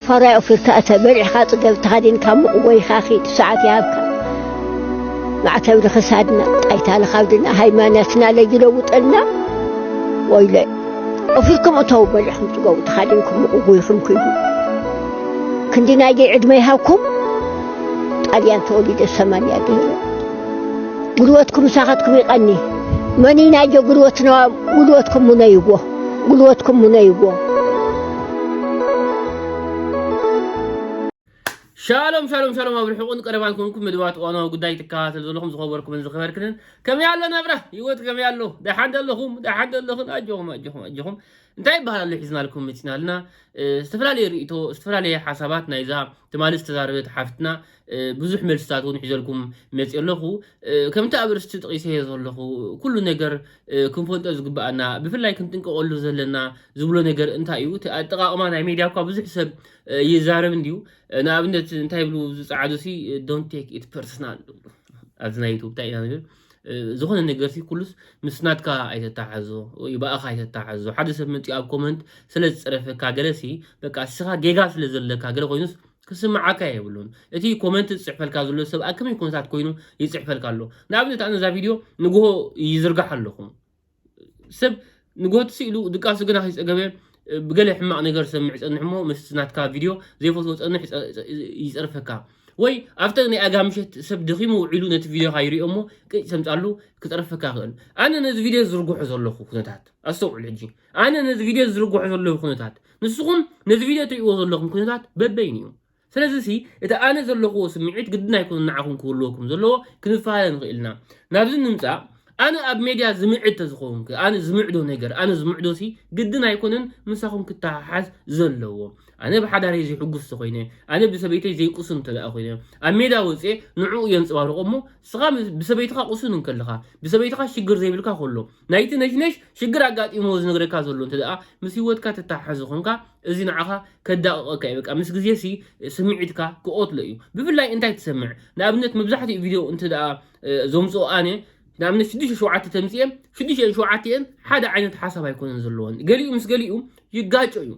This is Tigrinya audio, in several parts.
ፋራይ ኦፊርካ እተ በልዕካ ጽገብ ተኻዲንካ ሙቕ ወይኻ ኺድ ሰዓት ይሃብካ ማዕተብ ንኽሳድና ጣይታ ንኻብድና ሃይማኖትና ለይለውጠልና ወይለ ኦፊርኩም እተው በልዕኹም ጽገቡ ተኻዲንኩም ሙቕ ጎይኹም ክይዱ ክንዲ ናይ ደይ ዕድመ ይሃብኩም ጣልያን ተወሊደ ሰማንያ ገይረ ጉልበትኩም ምሳኻትኩም ይቐኒ መኒ ናይ ጀ ጉልበትና ጉልበትኩም ሙነይዎ ጉልበትኩም ሙነይዎ። ሻሎም ሻሎም ሻሎም ኣብ ርሑቕን ቀረባን ኮንኩም መደባት እዋናዊ ጉዳይ ትከታተሉ ዘለኹም ዝኸበርኩምን ዝኸበርክንን ከመይ ኣሎ ናብራ ህይወት ከመይ ኣሎ ደሓን ዘለኹም ደሓን ዘለኹን ኣጆኹም ኣጆኹም ኣጆኹም እንታይ ይበሃል ኣሎ ሒዝናልኩም መፂና ኣለና እ፣ ዝተፈላለየ ርእይቶ ዝተፈላለየ ሓሳባት ናይዛ ትማሊ ዝተዛረበት ሓፍትና ብዙሕ መልስታት እውን ሒዘልኩም መፂእ ኣለኹ ከምቲ ኣብ ርስቲ ጥቂሰዮ ዘለኹ ኩሉ ነገር ክንፈልጦ ዝግበኣና ብፍላይ ክንጥንቀቀሉ ዘለና ዝብሎ ነገር እንታይ እዩ እቲ ኣጠቃቅማ ናይ ሜድያ እኳ ብዙሕ ሰብ ይዛረብ እንድዩ ንኣብነት እንታይ ብሉ ዝፀዓዱ ሲ ዶንት ቴክ ኢት ፐርሰናል ኣብዚ ናይ ዩቱብ እንታይ ኢና ንብል ዝኾነ ነገር ሲ ኩሉስ ምስ ናትካ ኣይተተሓዞ ወይ ብኣኻ ኣይተተሓዞ ሓደ ሰብ መፂኡ ኣብ ኮመንት ስለ ዝፀረፈካ ገለ ሲ በቃ ንስኻ ጌጋ ስለ ዘለካ ገለ ኮይኑስ ክስምዓካ የብሉን እቲ ኮመንት ዝጽሕፈልካ ዘሎ ሰብ ኣብ ከመይ ኩነታት ኮይኑ ይጽሕፈልካ ኣሎ ንኣብነት ኣነ እዛ ቪድዮ ንግሆ ይዝርጋሕ ኣለኹ ሰብ ንግሆ ትስኢሉ ድቃሱ ግና ከይጸገበ ብገለ ሕማቕ ነገር ዝሰምዕ ይጸንሕ እሞ ምስ ናትካ ቪድዮ ዘይፈትዎ ጸንሕ ይጸርፈካ ወይ ኣብተ ናይ ኣጋ ምሸት ሰብ ደኺሙ ውዒሉ ነቲ ቪድዮኻ ይሪኦ እሞ ቅጭ ሰምጻሉ ክጸርፈካ ይኽእል ኣነ ነዚ ቪድዮ ዝርግሖ ዘለኹ ኩነታት ኣስተውዕሉ ሕጂ ኣነ ነዚ ቪድዮ ዝዝርግሖ ዘለኹ ኩነታት ንስኹም ነዚ ቪድዮ ትሪእዎ ዘለኹም ኩነታት በበይኑ እዩ ስለዚ ሲ እቲ ኣነ ዘለኹዎ ስምዒት ግድን ኣይኮነ ንዓኹም ክህልወኩም ዘለዎ ክንፈላለ ንኽእል ኢና ናብዚ ንምፃእ ኣነ ኣብ ሜድያ ዝምዕድ ተዝኸውንክ ኣነ ዝምዕዶ ነገር ኣነ ዝምዕዶ ሲ ግድን ኣይኮነን ምሳኹም ክተሓሓዝ ዘለዎ ኣነ ብሓዳረይ ዘይሕጉስ ተኮይነ ኣነ ብሰበይተይ ዘይቁስን እንተደኣ ኮይነ ኣብ ሜዳ ወፅኤ ንዕኡ የንፅባርቆ እሞ ንስኻ ብሰበይትኻ ቁሱን እንከለኻ ብሰበይትኻ ሽግር ዘይብልካ ከሎ ናይቲ ነሽነሽ ሽግር ኣጋጢምዎ ዝነግረካ ዘሎ እንተ ደኣ ምስ ሂወትካ ትተሓሓዞ ኮንካ እዚ ንዓኻ ከዳቕቐካ እዩ በቃ ምስ ግዜ ሲ ስምዒትካ ክቆትሎ እዩ ብፍላይ እንታይ ትሰምዕ ንኣብነት መብዛሕትኡ ቪድዮ እንተ ደኣ ዘምጽኦ ኣነ ንኣብነት ሽዱሽተ ሸውዓተ ተምጽኤ ሽዱሽተን ሸውዓቲኤን ሓደ ዓይነት ሓሳብ ኣይኮነን ዘለወን ገሊኡ ምስ ገሊኡ ይጋጮ እዩ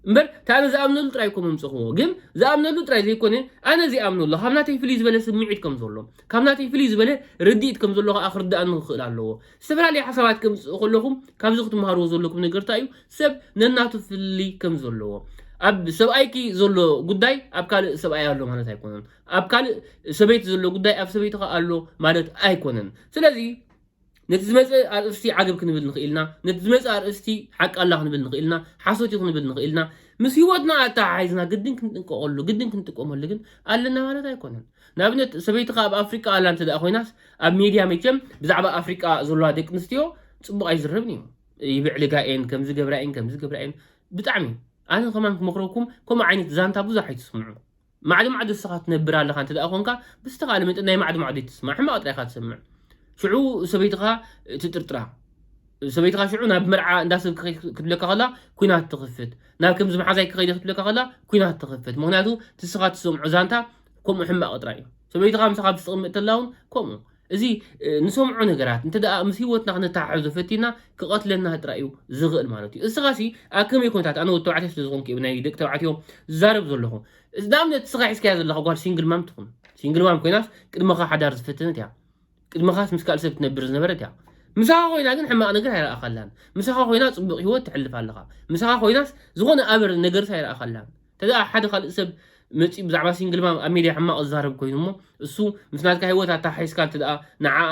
እምበር እቲ ኣነ ዝኣምነሉ ጥራይ እኮ መምጽኹዎ ግን ዝኣምነሉ ጥራይ ዘይኮነ ኣነ ዘይኣምነሉ ካብ ናተይ ፍልይ ዝበለ ስምዒት ከም ዘሎ ካብ ናተይ ፍልይ ዝበለ ርድኢት ከም ዘሎ ከዓ ክርድኣኒ ክኽእል ኣለዎ ዝተፈላለዩ ሓሳባት ከምጽእ ከለኹም ካብዚ ክትምሃርዎ ዘለኩም ነገር እንታይ እዩ ሰብ ነናቱ ፍልይ ከም ዘለዎ ኣብ ሰብኣይኪ ዘሎ ጉዳይ ኣብ ካልእ ሰብኣይ ኣሎ ማለት ኣይኮነን ኣብ ካልእ ሰበይቲ ዘሎ ጉዳይ ኣብ ሰበይትኻ ኣሎ ማለት ኣይኮነን ስለዚ ነቲ ዝመጸ ኣርእስቲ ዓገብ ክንብል ንኽኢልና፣ ነቲ ዝመጸ ኣርእስቲ ሓቂ ኣላ ክንብል ንኽኢልና፣ ሓሶት እዩ ክንብል ንኽኢልና፣ ምስ ህይወትና ኣተሓሒዝና ግድን ክንጥንቀቐሉ፣ ግድን ክንጥቀመሉ ግን ኣለና ማለት ኣይኮነን። ንኣብነት ሰበይትኻ ኣብ ኣፍሪቃ ኣላ እንተ ኮይናስ ኣብ ሜድያ መቸም ብዛዕባ ኣፍሪቃ ዘለዋ ደቂ ኣንስትዮ ጽቡቕ ኣይዝረብን እዩ። ይብዕልጋ እየን፣ ከምዚ ገብራ እየን፣ ከምዚ ገብራ እየን ብጣዕሚ ኣነ ከማን ክመኽረኩም ከምኡ ዓይነት ዛንታ ብዙሕ ኣይትስምዑ። ማዕዶማዕዶ እስኻ ትነብር ኣለኻ እንተደኣ ኮንካ ብዝተኻለ መጠን ናይ ማዕዶማዕዶ ኣይትስማዕ ሕማቕ ጥራይ ኢኻ ትሰምዕ ሽዑ ሰበይትኻ ትጥርጥራ ሰበይትኻ ሽዑ ናብ መርዓ እንዳ ሰብ ክትብለካ ከላ ኩናት ትኽፍት ናብ ከምዚ መሓዛይ ክኸይደ ክትብለካ ከላ ኩናት ትኽፍት ምክንያቱ ትስኻ ትሰምዖ ዛንታ ከምኡ ሕማቕ ጥራይ እዩ ሰበይትኻ ምሳኻ ብትቕምጥ ተላ እውን ከምኡ እዚ ንሰምዖ ነገራት እንተ ደኣ ምስ ህይወትና ክነተሓሕዞ ፈቲና ክቐትለና ጥራይ እዩ ዝኽእል ማለት እዩ። እስኻሲ ኣብ ከመይ ኩነታት ኣነ ወዲ ተባዕትዮ ስለ ዝኾንኩ እየ ብናይ ደቂ ተባዕትዮ ዝዛረብ ዘለኹ። ንኣብነት እስኻ ሒዝካያ ዘለኻ ጓል ሲንግል ማም ትኹን ሲንግል ማም ኮይናስ ቅድመኻ ሓዳር ዝፈተነት እያ። ቅድመኻስ ምስ ካልእ ሰብ ትነብር ዝነበረት እያ። ምሳኻ ኮይና ግን ሕማቕ ነገር ኣይረኣኻላን። ምሳኻ ኮይና ጽቡቕ ህይወት ተሕልፍ ኣለኻ። ምሳኻ ኮይናስ ዝኾነ ኣበር ነገርስ ኣይረኣኻላን። ተደኣ ሓደ ካልእ ሰብ መጺኡ ብዛዕባ ሲንግል ማም ኣብ ሜድያ ሕማቕ ዝዛረብ ኮይኑ እሞ እሱ ምስ ናትካ ሂወት ኣተሓሒዝካ እንተደኣ ንዓኣ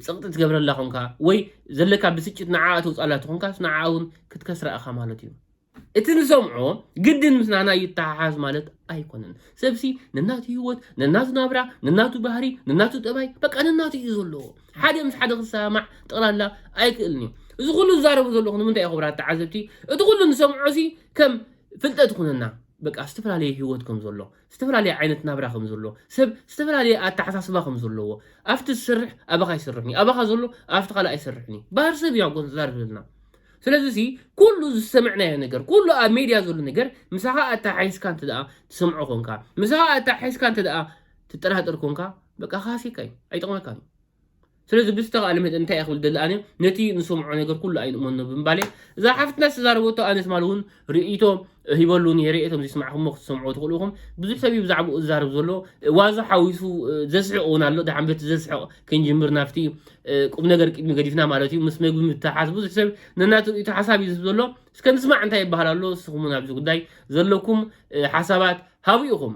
ጸቕጢ ትገብረላ ኮንካ ወይ ዘለካ ብስጭት ንዓኣ ተውጽኣላ ተኾንካስ ንዓኣ እውን ክትከስራ ኢኻ ማለት እዩ። እቲ ንሰምዖ ግድን ምስ ናህና ይተሓሓዝ ማለት ኣይኮነን። ሰብሲ ነናቱ ሂወት፣ ነናቱ ናብራ፣ ነናቱ ባህሪ፣ ነናቱ ጠባይ በቃ ነናቱ እዩ ዘለዎ። ሓደ ምስ ሓደ ክሰማማዕ ጠቕላላ ኣይክእልን እዩ። እዚ ኩሉ ዝዛረቦ ዘለኹ ንምንታይ እዩ ክቡራት ተዓዘብቲ? እቲ ኩሉ ንሰምዖሲ ከም ፍልጠት ይኹነና በቃ ዝተፈላለየ ህይወት ከም ዘሎ፣ ዝተፈላለየ ዓይነት ናብራ ከም ዘሎ፣ ሰብ ዝተፈላለየ ኣተሓሳስባ ከም ዘለዎ፣ ኣብቲ ዝሰርሕ ኣባኻ ኣይሰርሕን'ዩ፣ ኣባኻ ዘሎ ኣብቲ ካልእ ኣይሰርሕን'ዩ፣ ባህሪ ሰብ እዩ ኣኮ ዘዛርበልና። ስለዚሲ ኩሉ ዝሰምዕናዮ ነገር፣ ኩሉ ኣብ ሜድያ ዘሎ ነገር ምሳኻ ኣተሓሒዝካ እንተደኣ ትሰምዖ ኮንካ፣ ምሳኻ ኣተሓሒዝካ እንተደኣ ትጠራጠር ኮንካ፣ በቃ ክሃስየካ እዩ፣ ኣይጠቕመካን'ዩ። ስለዚ ብዝተኻእለ መጠን እንታይ እየ ክብል ደሊ ኣነ ነቲ ንሰምዖ ነገር ኩሉ ኣይንእመኖ ብምባል እየ እዛ ሓፍትና ዝተዛረበቶ ኣነ ትማል እውን ርእይቶ ሂበሉ ነይረ እየ እቶም ዘይስማዕኹሞ ክትሰምዑ ትኽእሉ ኢኹም ብዙሕ ሰብ እዩ ብዛዕባኡ ዝዛረብ ዘሎ ዋዛ ሓዊሱ ዘስሕቕ እውን ኣሎ ድሓን በቲ ዘስሕቕ ክንጅምር ናብቲ ቁም ነገር ቅድሚ ገዲፍና ማለት እዩ ምስ መግቢ ምትሓሓዝ ብዙሕ ሰብ ነናቱ ርእይቶ ሓሳብ እዩ ዝህብ ዘሎ እስከ ንስማዕ እንታይ ይበሃል ኣሎ ንስኹም እውን ኣብዚ ጉዳይ ዘለኩም ሓሳባት ሃቡ ኢኹም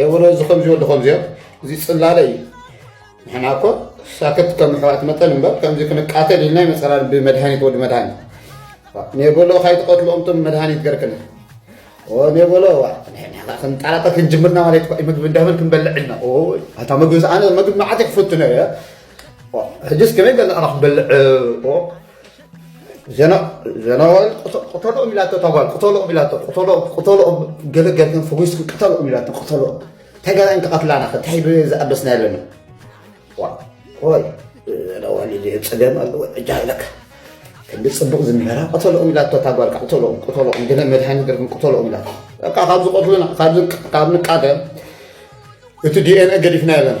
የበሎ እዚ ከምዚ ወዲ ከምዚዮ እዚ ፅላለ እዩ ንሕና እኮ ሳክት ከም ኣሕዋት መጠን እምበር ከምዚ ክንቃተል ኢልና ይመፀና ብመድሃኒት ወዲ መድሃኒት ኔበሎ ካይትቐትልኦም ቶም መድሃኒት ገርክና ኔበሎ ክንጣላጠ ክንጅምርና ማለት ምግቢ እንዳበል ክንበልዕ ኢልና ኣታ ምግቢ ኣነ ምግቢ መዓት ክፈቱ ነረ ሕጅስ ከመይ ገለዕና ክበልዕ ጀነራል ቅተልኦም ኢላቶ እታ ጓል ቅተልኦም ኢላቶ ቅተልኦም ገለ ገርክን ፈዊስኩ ቅተልኦም ኢላቶ ቅተልኦም ተገራን ክቐትላና ከታይ ዝኣበስና ኣለና ወይ ጀነራል ኢለ ፀገም ኣለዎ ዕጃ ኢለካ ክንዲ ፅቡቕ ዝምህራ ቅተልኦም ኢላቶ እታ ጓል ቅተልኦም ቅተልኦም ገለ መድሃኒ ገርክን ቅተልኦም ኢላቶ በቃ ካብ ዝቐትሉና ካብ ንቃተል እቲ ዲኤንኤ ገዲፍና ኣለና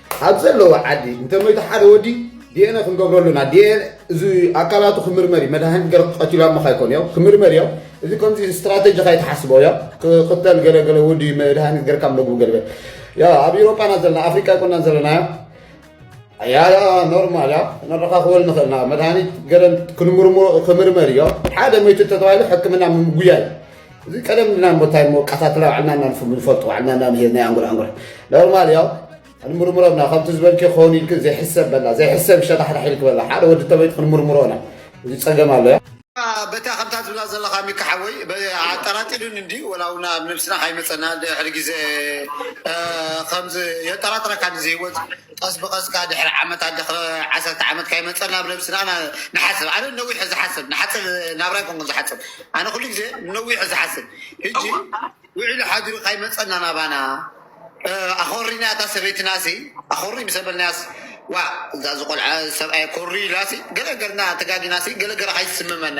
ኣብ ዘለዎ ዓዲ እንተመይቱ ሓደ ወዲ ዲኤንኤ ክንገብረሉ ኢና ዲኤንኤ እዚ ኣካላቱ ክምርመር እዩ መድሃኒት ገረ ክቀትሉ ኣብ ምካ ይኮን እዮ ክምርመር እዮ እዚ ከምዚ ስትራቴጂ ካይትሓስቦ እዮ ክቅተል ገለ ገለ ወዲ መድሃኒት ገርካ መግቡ ገለ ያ ኣብ ኤሮፓና ዘለና ኣፍሪካ ይኮናን ዘለና እዮ ያ ያ ኖርማል እያ ነረካክበል ንክእል ኢና መድሃኒት ገረ ክንምርሞ ክምርመር እዮ ሓደ መይቱ ተተባሂሉ ሕክምና ምጉያይ እዚ ቀደም ድና እሞ እንታይ እሞ ቀታትላ ባዕልና እና ንፍም ንፈልጡ ባዕልና እና ንሄድ ናይ ኣንጉር ኣንጉር ኖርማል ያው ንሙርሙሮና ከምቲ ዝበልኪ ክኸውን ኢልክ ዘይሕሰብ በላ ዘይሕሰብ ሸታሕታሕ ኢልክ በላ ሓደ ወዲ ተበይት ክንሙርሙሮና እዚ ጸገም ኣሎ ያ በታ ከምታ ትብላ ዘለካ ሚካ ሓወይ ኣጠራጢሩን እንዲ ወላውና ኣብ ነብስና ካይመፀና ድሕሪ ግዜ ከምዚ የጠራጥረካ እዚ ህይወት ቀስ ብቀስ ከኣ ድሕሪ ዓመታት ድሕሪ ዓሰርተ ዓመት ከይመጸ ናብ ነብስና ና- ንሓስብ ኣነ ነዊሕ ዝሓስብ ንሓጽር ናብራ ኣይኮንኩን ዝሓጽብ ኣነ ኩሉ ግዜ ነዊሕ ዝሓስብ ሕጂ ውዒሉ ሓዲሩ ከይመጸና ናባና እ፣ ኣኾሪና እታ ሰበይትና ሲ ኣኾሪ ምስ በልናያስ ዋ እዛ ዝቆልዓ ሰብኣይ ኮሪ ኢላሲ ገለ ገርና ተጋጊናሲ ገለ ገረ ከይስምመና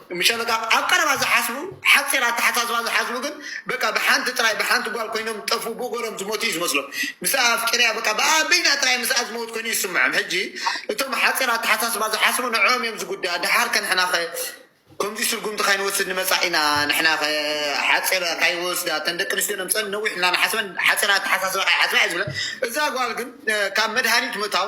ምሸ በቃ ኣብ ቀረባ ዝሓስቡ ሓጺር ኣተሓሳስባ ዝሓስቡ ግን በቃ ብሓንቲ ጥራይ ብሓንቲ ጓል ኮይኖም ዝጠፍኡ ብእጎሮም ዝሞቱ እዩ ዝመስሎም ምስኣ ኣፍቂረያ በቃ ብኣ በይና ጥራይ ምስኣ ዝመውት ኮይኑ እዩ ዝስምዖም ሕጂ እቶም ሓጺር ኣተሓሳስባ ዝሓስቡ ንዕኦም እዮም ዝጉዳእ ድሓር ከ ንሕናኸ ከምዚ ስጉምቲ ካይንወስድ ንመጻኢና ንሕናኸ ሓጺር ካይወስዳ እተን ደቂ ኣንስትዮ ነምጸን ነዊሕ እና ንሓስበን ሓጺር ኣተሓሳስባ ካይሓስባ እየ ዝብለን እዛ ጓል ግን ካብ መድሃኒት ምእታው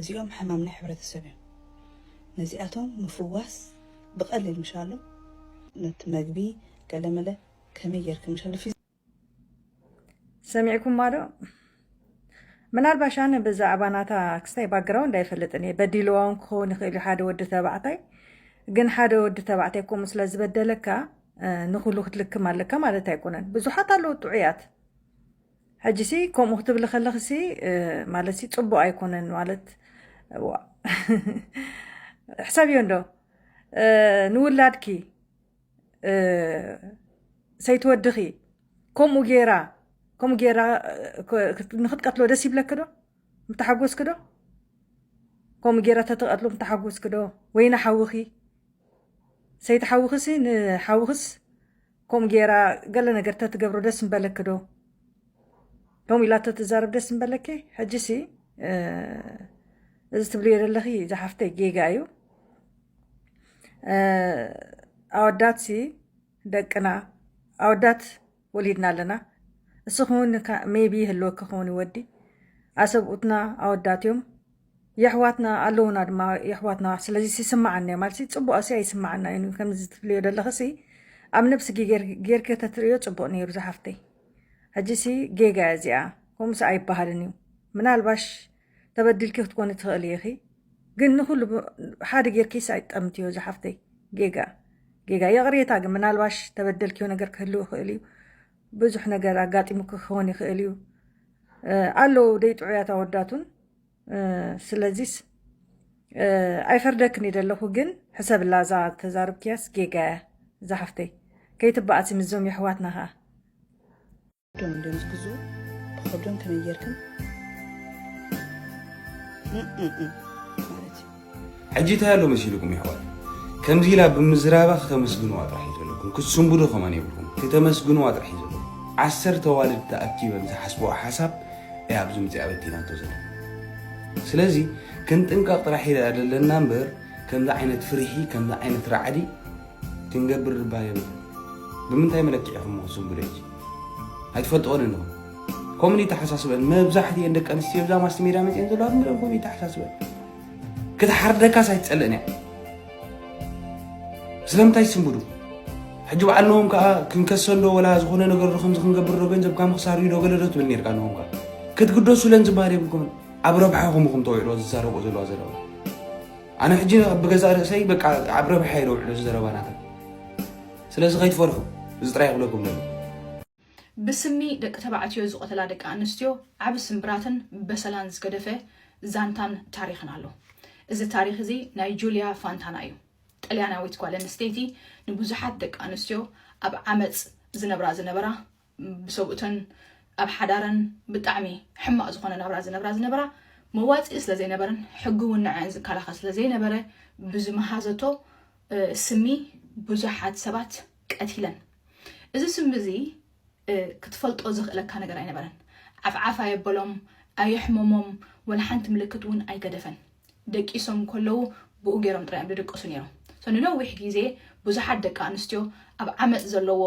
እዚኦም ሕማም ናይ ሕብረተሰብ እዮም ነዚኣቶም ምፍዋስ ብቀሊል ምሻሉ ነቲ መግቢ ገለመለ ከመይ ጌርኪ ምሻሉ ፊዚካል። ሰሚዕኩማ ዶ ምናልባሽ ኣነ ብዛዕባ ናታ ክስታይ ባክግራውንድ ኣይፈልጥን እየ በዲልዋ እውን ክኸውን ይኽእል እዩ ሓደ ወዲ ተባዕታይ ግን ሓደ ወዲ ተባዕታይ ከምኡ ስለ ዝበደለካ ንኹሉ ክትልክም ኣለካ ማለት ኣይኮነን ብዙሓት ኣለዉ ጥዑያት ሕጂሲ ከምኡ ክትብሊ ከለክሲ ማለትሲ ፅቡቅ ኣይኮነን ማለት ሕሰብዮ እንዶ ንውላድኪ ሰይቲ ወድኺ ከምኡ ጌራ ከምኡ ጌራ ንክትቀትሎ ደስ ይብለክዶ ምተሓጎስክዶ ከምኡ ጌራ ተተቀትሎ ምተሓጎስክዶ ወይ ንሓውኺ ሰይቲ ሓውኽሲ ንሓውኽስ ከምኡ ገይራ ገለ ነገር ተትገብሮ ደስ ምበለኪ ዶ ከምኡ ኢላ ተትዛረብ ደስ ምበለኪ ሕጂሲ እዚ ትብልዮ ዘለኺ ዝሓፍተይ ጌጋ እዩ ኣወዳት ሲ ደቅና ኣወዳት ወሊድና ኣለና እስኹን ሜቢ ይህልወኪ ክውን ወዲ ኣሰብኡትና ኣወዳት እዮም የሕዋትና ኣለዉና ድማ የሕዋትና ስለዚ ይስምዓና እዩ ማለት ጽቡቅ ኣሲ ኣይስምዓና እዩ ከምዚ ትብልዮ ዘለኽሲ ኣብ ነብስኪ ጌርኪ ተትርእዮ ጽቡቅ ነይሩ ዝሓፍተይ ሕጂሲ ጌጋ እያ እዚኣ ከምኡሲ ኣይበሃልን እዩ ምናልባሽ ተበዲልኪ ክትኮኒ ትኽእሊ ኢኺ ግን ንኹሉ ሓደ ጌርኪስ ኣይትጠምትዮ ዝሓፍተይ ጌጋ ጌጋ ይቕሬታ ግን ምናልባሽ ተበደልክዮ ነገር ክህልው ይኽእል እዩ ብዙሕ ነገር ኣጋጢሙኪ ክኸውን ይኽእል እዩ ኣለዉ ደይ ጥዑያት ኣወዳቱን ስለዚስ ኣይፈርደክን ደለኹ ግን ሕሰብላ እዛ ተዛርብክያስ ጌጋ እያ እዛ ሓፍተይ ከይትበኣሲ ምስዞም የሕዋትና ከዓ ዶም እንዲም ዝግዝኡ ብኸብዶም ከመይ ጌርክን ማለት እዩ ሕጂ እንታይ ኣሎ መሲልኩም የሕዋት ከምዚ ኢላ ብምዝራባ ክተመስግንዋ ጥራሕ እዩ ዘለኩም ክትስንብዱ ከማን የብልኩም ክተመስግንዋ ጥራሕ እዩ ዘለኩም ዓሰርተ ኣዋልድ ተኣኪበን ዝሓስብዋ ሓሳብ እያ ኣብዚ ምፅያ በቲናቶ ዘለና ስለዚ ክንጥንቀቕ ጥራሕ ኢና ዘለና እምበር ከምዚ ዓይነት ፍርሒ ከምዚ ዓይነት ራዕዲ ክንገብር እባ የብልናን ብምንታይ መለክዒ ኢኹም እሞ ክትዝንብሉ ሕጂ ኣይትፈልጥኦን ኣለኹም ከምኡ ይተሓሳስበን መብዛሕትኤን ደቂ ኣንስትዮ እዛ ማስቲ ሜዳ መፅኤን ዘለዋ ዝም ብለን ከምኡ ይተሓሳስበን ክትሓርደካስ ኣይትፀልእን እያ ስለምንታይ ይስንብዱ ሕጂ በዓል ነዎም ከዓ ክንከሰንዶ ወላ ዝኾነ ነገር ዶ ከምዚ ክንገብር ዶ ገንዘብካ ምክሳር እዩ ዶ ገለ ዶ ትብል ነርካ ነዎም ከዓ ክትግደሱለን ዝበሃል የብልኩምን ኣብ ረብሓኹም ኢኹም ተውዕልዎ ዝዛረብኦ ዘለዋ ዘለዋ ኣነ ሕጂ ኣብ ገዛእ ርእሰይ በቃ ኣብ ረብሓ እየ ዘውዕሎ እዚ ዘረባ ናተን ስለዚ ከይትፈርሑ እዚ ጥራይ ክብለኩም ደለኹ። ብስሚ ደቂ ተባዕትዮ ዝቐተላ ደቂ ኣንስትዮ ዓቢ ስምብራትን በሰላን ዝገደፈ ዛንታን ታሪኽን ኣሎ። እዚ ታሪኽ እዚ ናይ ጁልያ ፋንታና እዩ። ጥልያናዊት ጓል ኣንስተይቲ ንብዙሓት ደቂ ኣንስትዮ ኣብ ዓመጽ ዝነብራ ዝነበራ ብሰብኡተን ኣብ ሓዳረን ብጣዕሚ ሕማቕ ዝኾነ ናብራ ዝነብራ ዝነበራ መዋጽኢ ስለ ዘይነበረን ሕጊ እውን ንዐኣን ዝከላኸል ስለ ዘይነበረ ብዝመሃዘቶ ስሚ ብዙሓት ሰባት ቀቲለን። እዚ ስሚ እዚ ክትፈልጦ ዘኽእለካ ነገር ኣይነበረን። ዓፍዓፍ ኣየበሎም፣ ኣየሕመሞም፣ ወላ ሓንቲ ምልክት እውን ኣይገደፈን። ደቂሶም ከለዉ ብኡ ገይሮም ጥራይ እዮም ዝድቅሱ ነይሮም። So ንነዊሕ ግዜ ብዙሓት ደቂ ኣንስትዮ ኣብ ዓመጽ ዘለዎ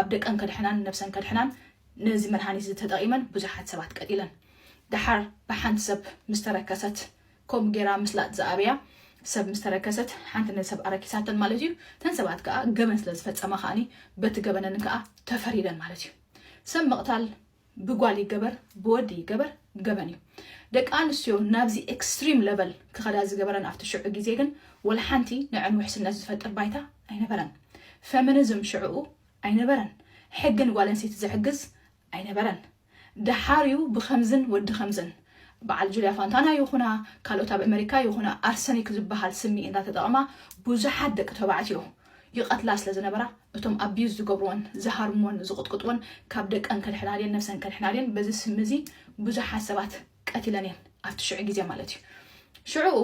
ኣብ ደቀን ከድሕናን ነብሰን ከድሕናን ነዚ መድሃኒት እዚ ተጠቒመን ብዙሓት ሰባት ቀቲለን። ደሓር ብሓንቲ ሰብ ምስ ተረከሰት ከምኡ ገይራ ምስላጥ ዝኣብያ ሰብ ምስ ተረከሰት ሓንቲ ነዚ ሰብ ኣረኪሳተን ማለት እዩ። እተን ሰባት ከኣ ገበን ስለ ዝፈጸማ ከኣኒ በቲ ገበነን ከኣ ተፈሪደን ማለት እዩ። ሰብ ምቕታል ብጓል ይገበር ብወዲ ይገበር ገበን እዩ። ደቂ ኣንስትዮ ናብዚ ኤክስትሪም ለቨል ክኸዳ ዝገበረን ኣብቲ ሽዑ ግዜ ግን ወልሓንቲ ንዐን ውሕስነት ዝፈጥር ባይታ ኣይነበረን። ፌሚኒዝም ሽዕኡ ኣይነበረን። ሕጊ ንጓል ኣንስተይቲ ዝሕግዝ ኣይነበረን። ደሓር እዩ ብኸምዝን ወዲ ከምዝን በዓል ጁልያ ፋንታና ይኹና ካልኦት ኣብ ኣመሪካ ይኹና ኣርሰኒክ ዝበሃል ስሚ እንዳተጠቐማ ብዙሓት ደቂ ተባዕትዮ ይቐትላ ስለ ዝነበራ እቶም ኣቢዩዝ ዝገብርወን፣ ዝሃርምወን፣ ዝቕጥቅጥወን ካብ ደቀን ከድሕና ድየን ነብሰን ከድሕና ድየን በዚ ስሚ እዚ ብዙሓት ሰባት ቀቲለን እየን ኣብቲ ሽዑ ግዜ ማለት እዩ። ሽዑኡ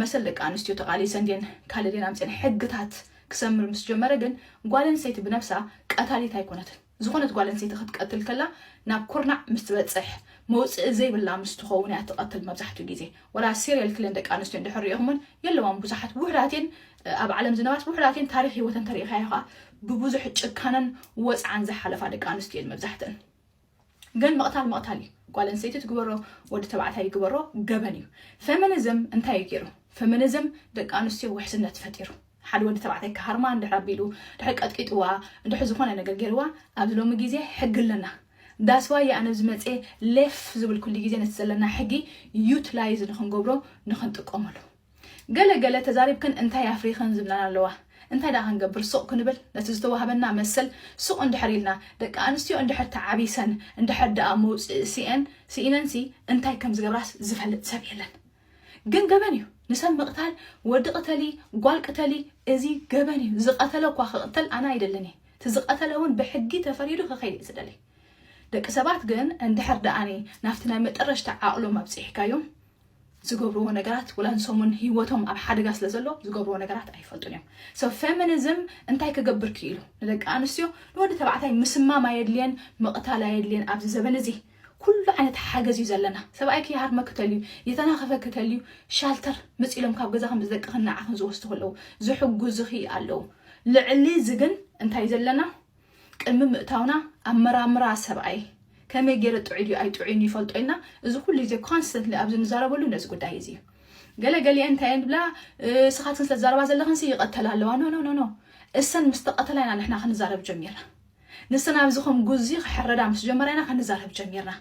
መሰል ደቂ ኣንስትዮ ተቓሊሰን ድየን ካልእ ድየን ኣምጺኤን ሕግታት ክሰምር ምስ ጀመረ ግን ጓል ኣንስተይቲ ብነብሳ ቀታሊት ኣይኮነትን። ዝኾነት ጓል ኣንስተይቲ ክትቀትል ከላ ናብ ኩርናዕ ምስ ትበጽሕ መውጽኢ ዘይብላ ምስ ትኸውን እያ ትቐትል መብዛሕትኡ ግዜ ወላ serial killer ደቂ ኣንስትዮ እንድሕር ሪኢኹመን የለዋን ብዙሓት ውሑዳት እየን ኣብ ዓለም ዝነበራት ውሑዳት እየን ታሪኽ ህይወተን ተሪእኻዮ ከኣ ብብዙሕ ጭካነን ወጽዓን ዝሓለፋ ደቂ ኣንስትዮ እየን መብዛሕተን ግን ምቕታል ምቕታል እዩ ጓል ኣንስተይቲ ትግበሮ ወዲ ተባዕታይ ይግበሮ ገበን እዩ ፌሚኒዝም እንታይ እዩ ገይሩ ፌሚኒዝም ደቂ ኣንስትዮ ውሕስነት ፈጢሩ ሓደ ወዲ ተባዕታይ ክሃርማ እንድሕር ኣቢሉ ድሕሪ ቀጥቂጥዋ እንድሕር ዝኾነ ነገር ጌርዋ ኣብዚ ሎሚ ግዜ ሕጊ ኣለና ዳስ ዋይ እየ ኣነ ዝመጽየ ሌፍ ዝብል ኩሉ ግዜ ነቲ ዘለና ሕጊ ዩትላይዝ ንኽንገብሮ ንኽንጥቀመሉ ገለ ገለ ተዛሪብክን እንታይ ኣፍሪኽን ዝብላና ኣለዋ እንታይ ደኣ ክንገብር ሱቕ ክንብል ነቲ ዝተዋህበና መሰል ሱቕ እንድሕር ኢልና ደቂ ኣንስትዮ እንድሕር ተዓቢሰን እንድሕር ደኣ መውጽኢ ስኤን ስኢነንሲ እንታይ ከም ዝገብራስ ዝፈልጥ ሰብ የለን ግን ገበን እዩ ንሰብ ምቅታል ወዲ ቅተሊ ጓል ቅተሊ እዚ ገበን እዩ ዝቀተለ እኳ ክቅተል ኣነ ኣይደልን እየ እቲ ዝቀተለ እውን ብሕጊ ተፈሪዱ ክከይድ እየ ዝደሊ ደቂ ሰባት ግን እንድሕር ደኣኒ ናብቲ ናይ መጠረሽታ ዓቅሎም ኣብፂሕካዮም ዝገብርዎ ነገራት ወላ ንሰሙን ሂወቶም ኣብ ሓደጋ ስለ ዘሎ ዝገብርዎ ነገራት ኣይፈልጡን እዮም ሰብ ፌሚኒዝም እንታይ ክገብር ክኢሉ ንደቂ ኣንስትዮ ንወዲ ተባዕታይ ምስማም ኣየድልየን ምቕታል ኣየድልየን ኣብዚ ዘበን እዚ ኩሉ ዓይነት ሓገዝ እዩ ዘለና። ሰብኣይኪ ይሃርመኪ ተልዩ፣ የተናኽፈኪ ተልዩ፣ ሻልተር መጺእሎም ካብ ገዛኺ ምስ ደቅኽን ንዓኽን ዝወስዱ ከለዉ ዝሕጉዝኺ ኣለዉ። ልዕሊ እዚ ግን እንታይ ዘለና ቅድሚ ምእታውና ኣመራምራ ሰብኣይ ከመይ ጌረ ጥዑይ ድዩ ኣይጥዑይን ይፈልጦ ኢልና እዚ ኩሉ ግዜ ኮንስተንትሊ ኣብዚ ንዛረበሉ ነዚ ጉዳይ እዚ እዩ። ገለ ገሊኤን እንታይ እየን ዝብላ ንስኻትክን ስለ ትዛረባ ዘለኽንሲ ይቐተላ ኣለዋ ኖ ኖ ኖ እሰን ምስ ተቐተላ ኢና ንሕና ክንዛረብ ጀሚርና። ንስና ኣብዚ ከም ጉዚ ክሕረዳ ምስ ጀመራ ኢና ክንዛረብ ጀሚርና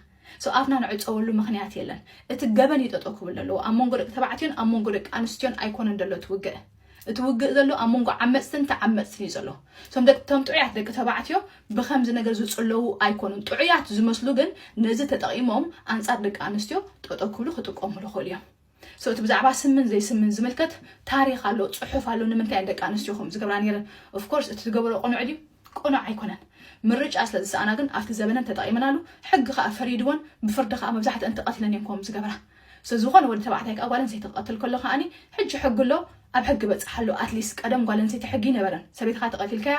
so ኣፍና ንዕጸወሉ ምኽንያት የለን እቲ ገበን እዩ ጠጠው ክብል ዘለዎ ኣብ መንጎ ደቂ ተባዕትዮን ኣብ መንጎ ደቂ ኣንስትዮን ኣይኮነን ዘሎ እቲ ውግእ እቲ ውግእ ዘሎ ኣብ መንጎ ዓመጽትን ተዓመጽትን እዩ ዘሎ ቶም ደቂ ቶም ጥዑያት ደቂ ተባዕትዮ ብከምዚ ነገር ዝጽለዉ ኣይኮኑን ጥዑያት ዝመስሉ ግን ነዚ ተጠቒሞም ኣንጻር ደቂ ኣንስትዮ ጠጠው ክብሉ ክጥቀሙሉ ይኽእሉ እዮም So እቲ ብዛዕባ ስምን ዘይስምን ዝምልከት ታሪኽ ኣሎ ጽሑፍ ኣሎ ንምንታይ እየን ደቂ ኣንስትዮ ከምኡ ዝገብራ ኔረን of course እቲ ዝገበርኦ ቅኑዕ ድዩ ቅኑዕ ኣይኮነን ምርጫ ስለ ዝሰኣና ግን ኣብቲ ዘበነን ተጠቒመናሉ ሕጊ ከኣ ፈሪድወን ብፍርዲ ከኣ መብዛሕትአን ተቐቲለን እየን ከምኡ ዝገብራ so ዝኾነ ወዲ ተባዕታይ ከኣ ጓል ኣንስተይቲ ክቐትል ከሎ ከኣ ሕጂ ሕጊ ኣሎ ኣብ ሕጊ በጽሓ ኣሎ ኣትሊስት ቀደም ጓል ኣንስተይቲ ሕጊ ይነበረን ሰበይትኻ ተቐቲልካያ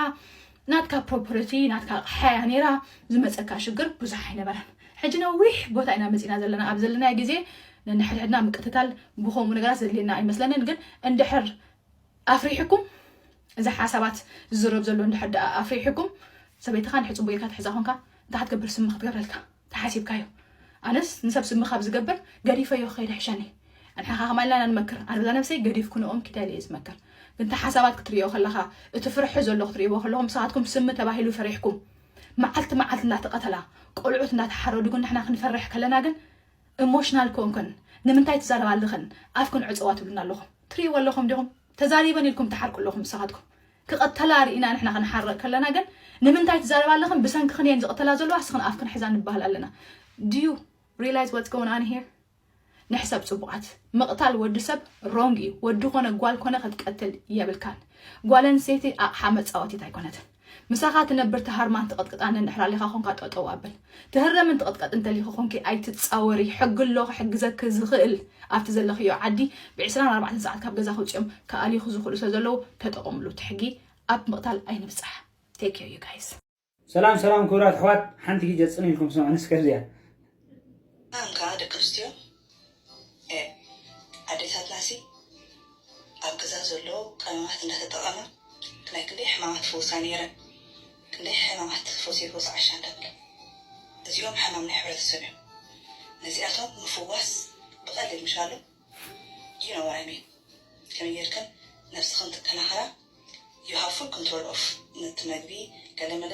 ናትካ ፕሮፐርቲ ናትካ ኣቕሓ እያ ነይራ ዝመጸካ ሽግር ብዙሕ ኣይነበረን ሕጂ ነዊሕ ቦታ ኢና መጺእና ዘለና ኣብ ዘለናዮ ግዜ ነንሕድሕድና ምቅትታል ብከምኡ ነገራት ዘድልየና ኣይመስለንን ግን እንድሕር ኣፍሪሕኩም እዚ ሓሳባት ዝዝረብ ዘሎ እንድሕር ድኣ ኣፍሪሕኩም ሰበይትኻ እንድሕር ጽቡቅ ጌርካ ትሕዛ ኮንካ እንታይ ክትገብር ስሚ ክትገብረልካ ተሓሲብካዮ ኣነስ ንሰብ ስሚ ካብ ዝገብር ገዲፈዮ ክከይድ ሕሸኒ ንሕኻ ከማን ኢልና ኢና ንመክር ኣነ በዛ ነብሰይ ገዲፍክንኦም ኪደ ኢለ እየ ዝመክር ግን እቲ ሓሳባት ክትርእዮ ከለካ እቲ ፍርሒ ዘሎ ክትርእይዎ ከለኩም ንስካትኩም ስሚ ተባሂሉ ፈሪሕኩም መዓልቲ መዓልቲ እንዳተቀተላ ቆልዑት እንዳተሓረዱ ግን ንሕና ክንፈርሕ ከለና ግን ኢሞሽናል ኮንክን ንምንታይ ትዛረባ ኣለክን ኣፍክን ዕፀዋ ትብሉና ኣለኩም ትርእይዎ ኣለኩም ዲኩም ተዛሪበን ኢልኩም ትሓርቁ ኣለኩም ንስካትኩም ክቅተላ ሪኢና ንሕና ክንሓርቅ ከለና ግን ንምንታይ ትዛረባ ኣለኽን ብሰንክኽን እየን ዝቅተላ ዘለዋ እስኽን ኣፍክን ሕዛ ንበሃል ኣለና do you realize what's going on here ንሕሰብ ጽቡቃት ምቅታል ወዲ ሰብ ሮንግ እዩ ወዲ ኮነ ጓል ኮነ ክትቀትል የብልካን ጓል ኣንስተይቲ ኣቅሓ መጻወቲት ኣይኮነትን ምሳኻ ትነብር ተሃርማን ትቅጥቅጣን ንድሕር ኣሊኻ ኮንካ ጠጠው ኣብል ትህረምን ትቕጥቀጥን ተሊኪ ኮንኪ ኣይትጻወሪ ሕጊ ኣሎ ክሕግዘኪ ዝኽእል ኣብቲ ዘለኽዮ ዓዲ ብዕስራን ኣርባዕተን ሰዓት ካብ ገዛ ክውጽኦም ክኣልዩኪ ዝኽእሉ ስለ ዘለዉ ተጠቐምሉ እቲ ሕጊ ኣብ ምቕታል ኣይንብጻሕ take care you guys። ሰላም ሰላም ክብራት ኣሕዋት ሓንቲ ግጀ ጽን ኢልኩም ስምዑኒ እስከ እዚኣ። ሰላምካ ደቂ ኣንስትዮ ኤእ ኣዴታትናሲ ኣብ ገዛ ዘሎ ቀመማት እንዳተጠቐማ ናይ ክንደይ ሕማማት ይፍውሳ ኔረን ክንደይ ሕማማት ፈውሲ ፈውሲ ዓሻ እንዳበላ እዚኦም ሕማም ናይ ሕብረተሰብ እዮም ነዚኣቶም ምፍዋስ ብቐሊል ምሻሎ you know what I mean ከመይ ጌርክን ነብስኽን ትከናኸና you have full control of ነቲ መግቢ ገለ መለ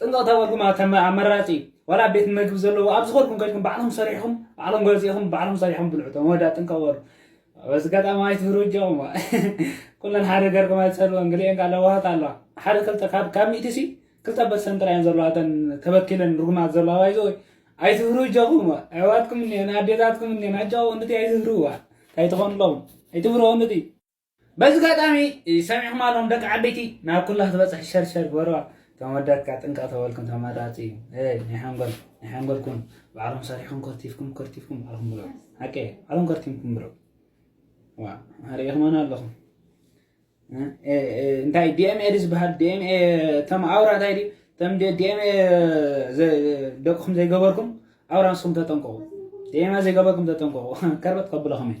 ጥንቅቕ ተበልኩም ኣብ ከም ኣመራጺ ዋላ ኣብ ቤት መግቢ ዘለዎ ኣብ ዝኾንኩም ከድኩም ባዕሎም ሰሪሕኩም ባዕሎም ገዚእኹም ባዕሎም ሰሪሖም ብልዑ እቶም ወዳ ጥንቅቕ በሉ በዚ ኣጋጣሚ ኣይትፍሩ እጃኹም ኩለን ሓደ ገርኩም ኣይትሰድወን ግሊኤን ካለ ለዋሃት ኣለዋ ሓደ ክልተ ካብ ካብ ሚእቲ ሲ ክልተ በሰን ጥራይ እየን ዘለዋ እተን ተበኪለን ርጉማት ዘለዋ ባይዘ ወይ ኣይትፍሩ እጃኹም ኣሕዋትኩም እኒአን ኣዴታትኩም እኒአን ኣጃኹ እንድቲ ኣይትፍርዋ እንታይ ትኾኑ ኣለኹም ኣይትፍርዎ እንድቲ በዚ ጋጣሚ ሰሚዕኩም ኣለኩም ደቂ ዓበይቲ ናብ ኩላ ክትበጽሕ ሸር ሸር ግበርዋ እቶም ወዳት ከኣ ጥንቅቕ ተበልኩም ተመራጺ እዩ እ ናይ ሓንጎል ናይ ሓንጎል ኩኑ ባዕልኩም ሰሪሕኩም ከርቲፍኩም ከርቲፍኩም ባዕልኩም ብልዑ ሓቂ እየ ባዕልኩም ከርቲምኩም ብልዑ ዋ ኣርእኹሞና ኣለኹም እንታይ ዲኤምኤ ድዩ ዝበሃል ዲኤምኤ እቶም ኣውራ እንታይ ድዩ እቶም ዲኤምኤ ደቅኹም ዘይገበርኩም ኣውራ ንስኹም ተጠንቀቑ ዲኤምኤ ዘይገበርኩም ተጠንቀቑ ከርበጥ ከብለኹም እዩ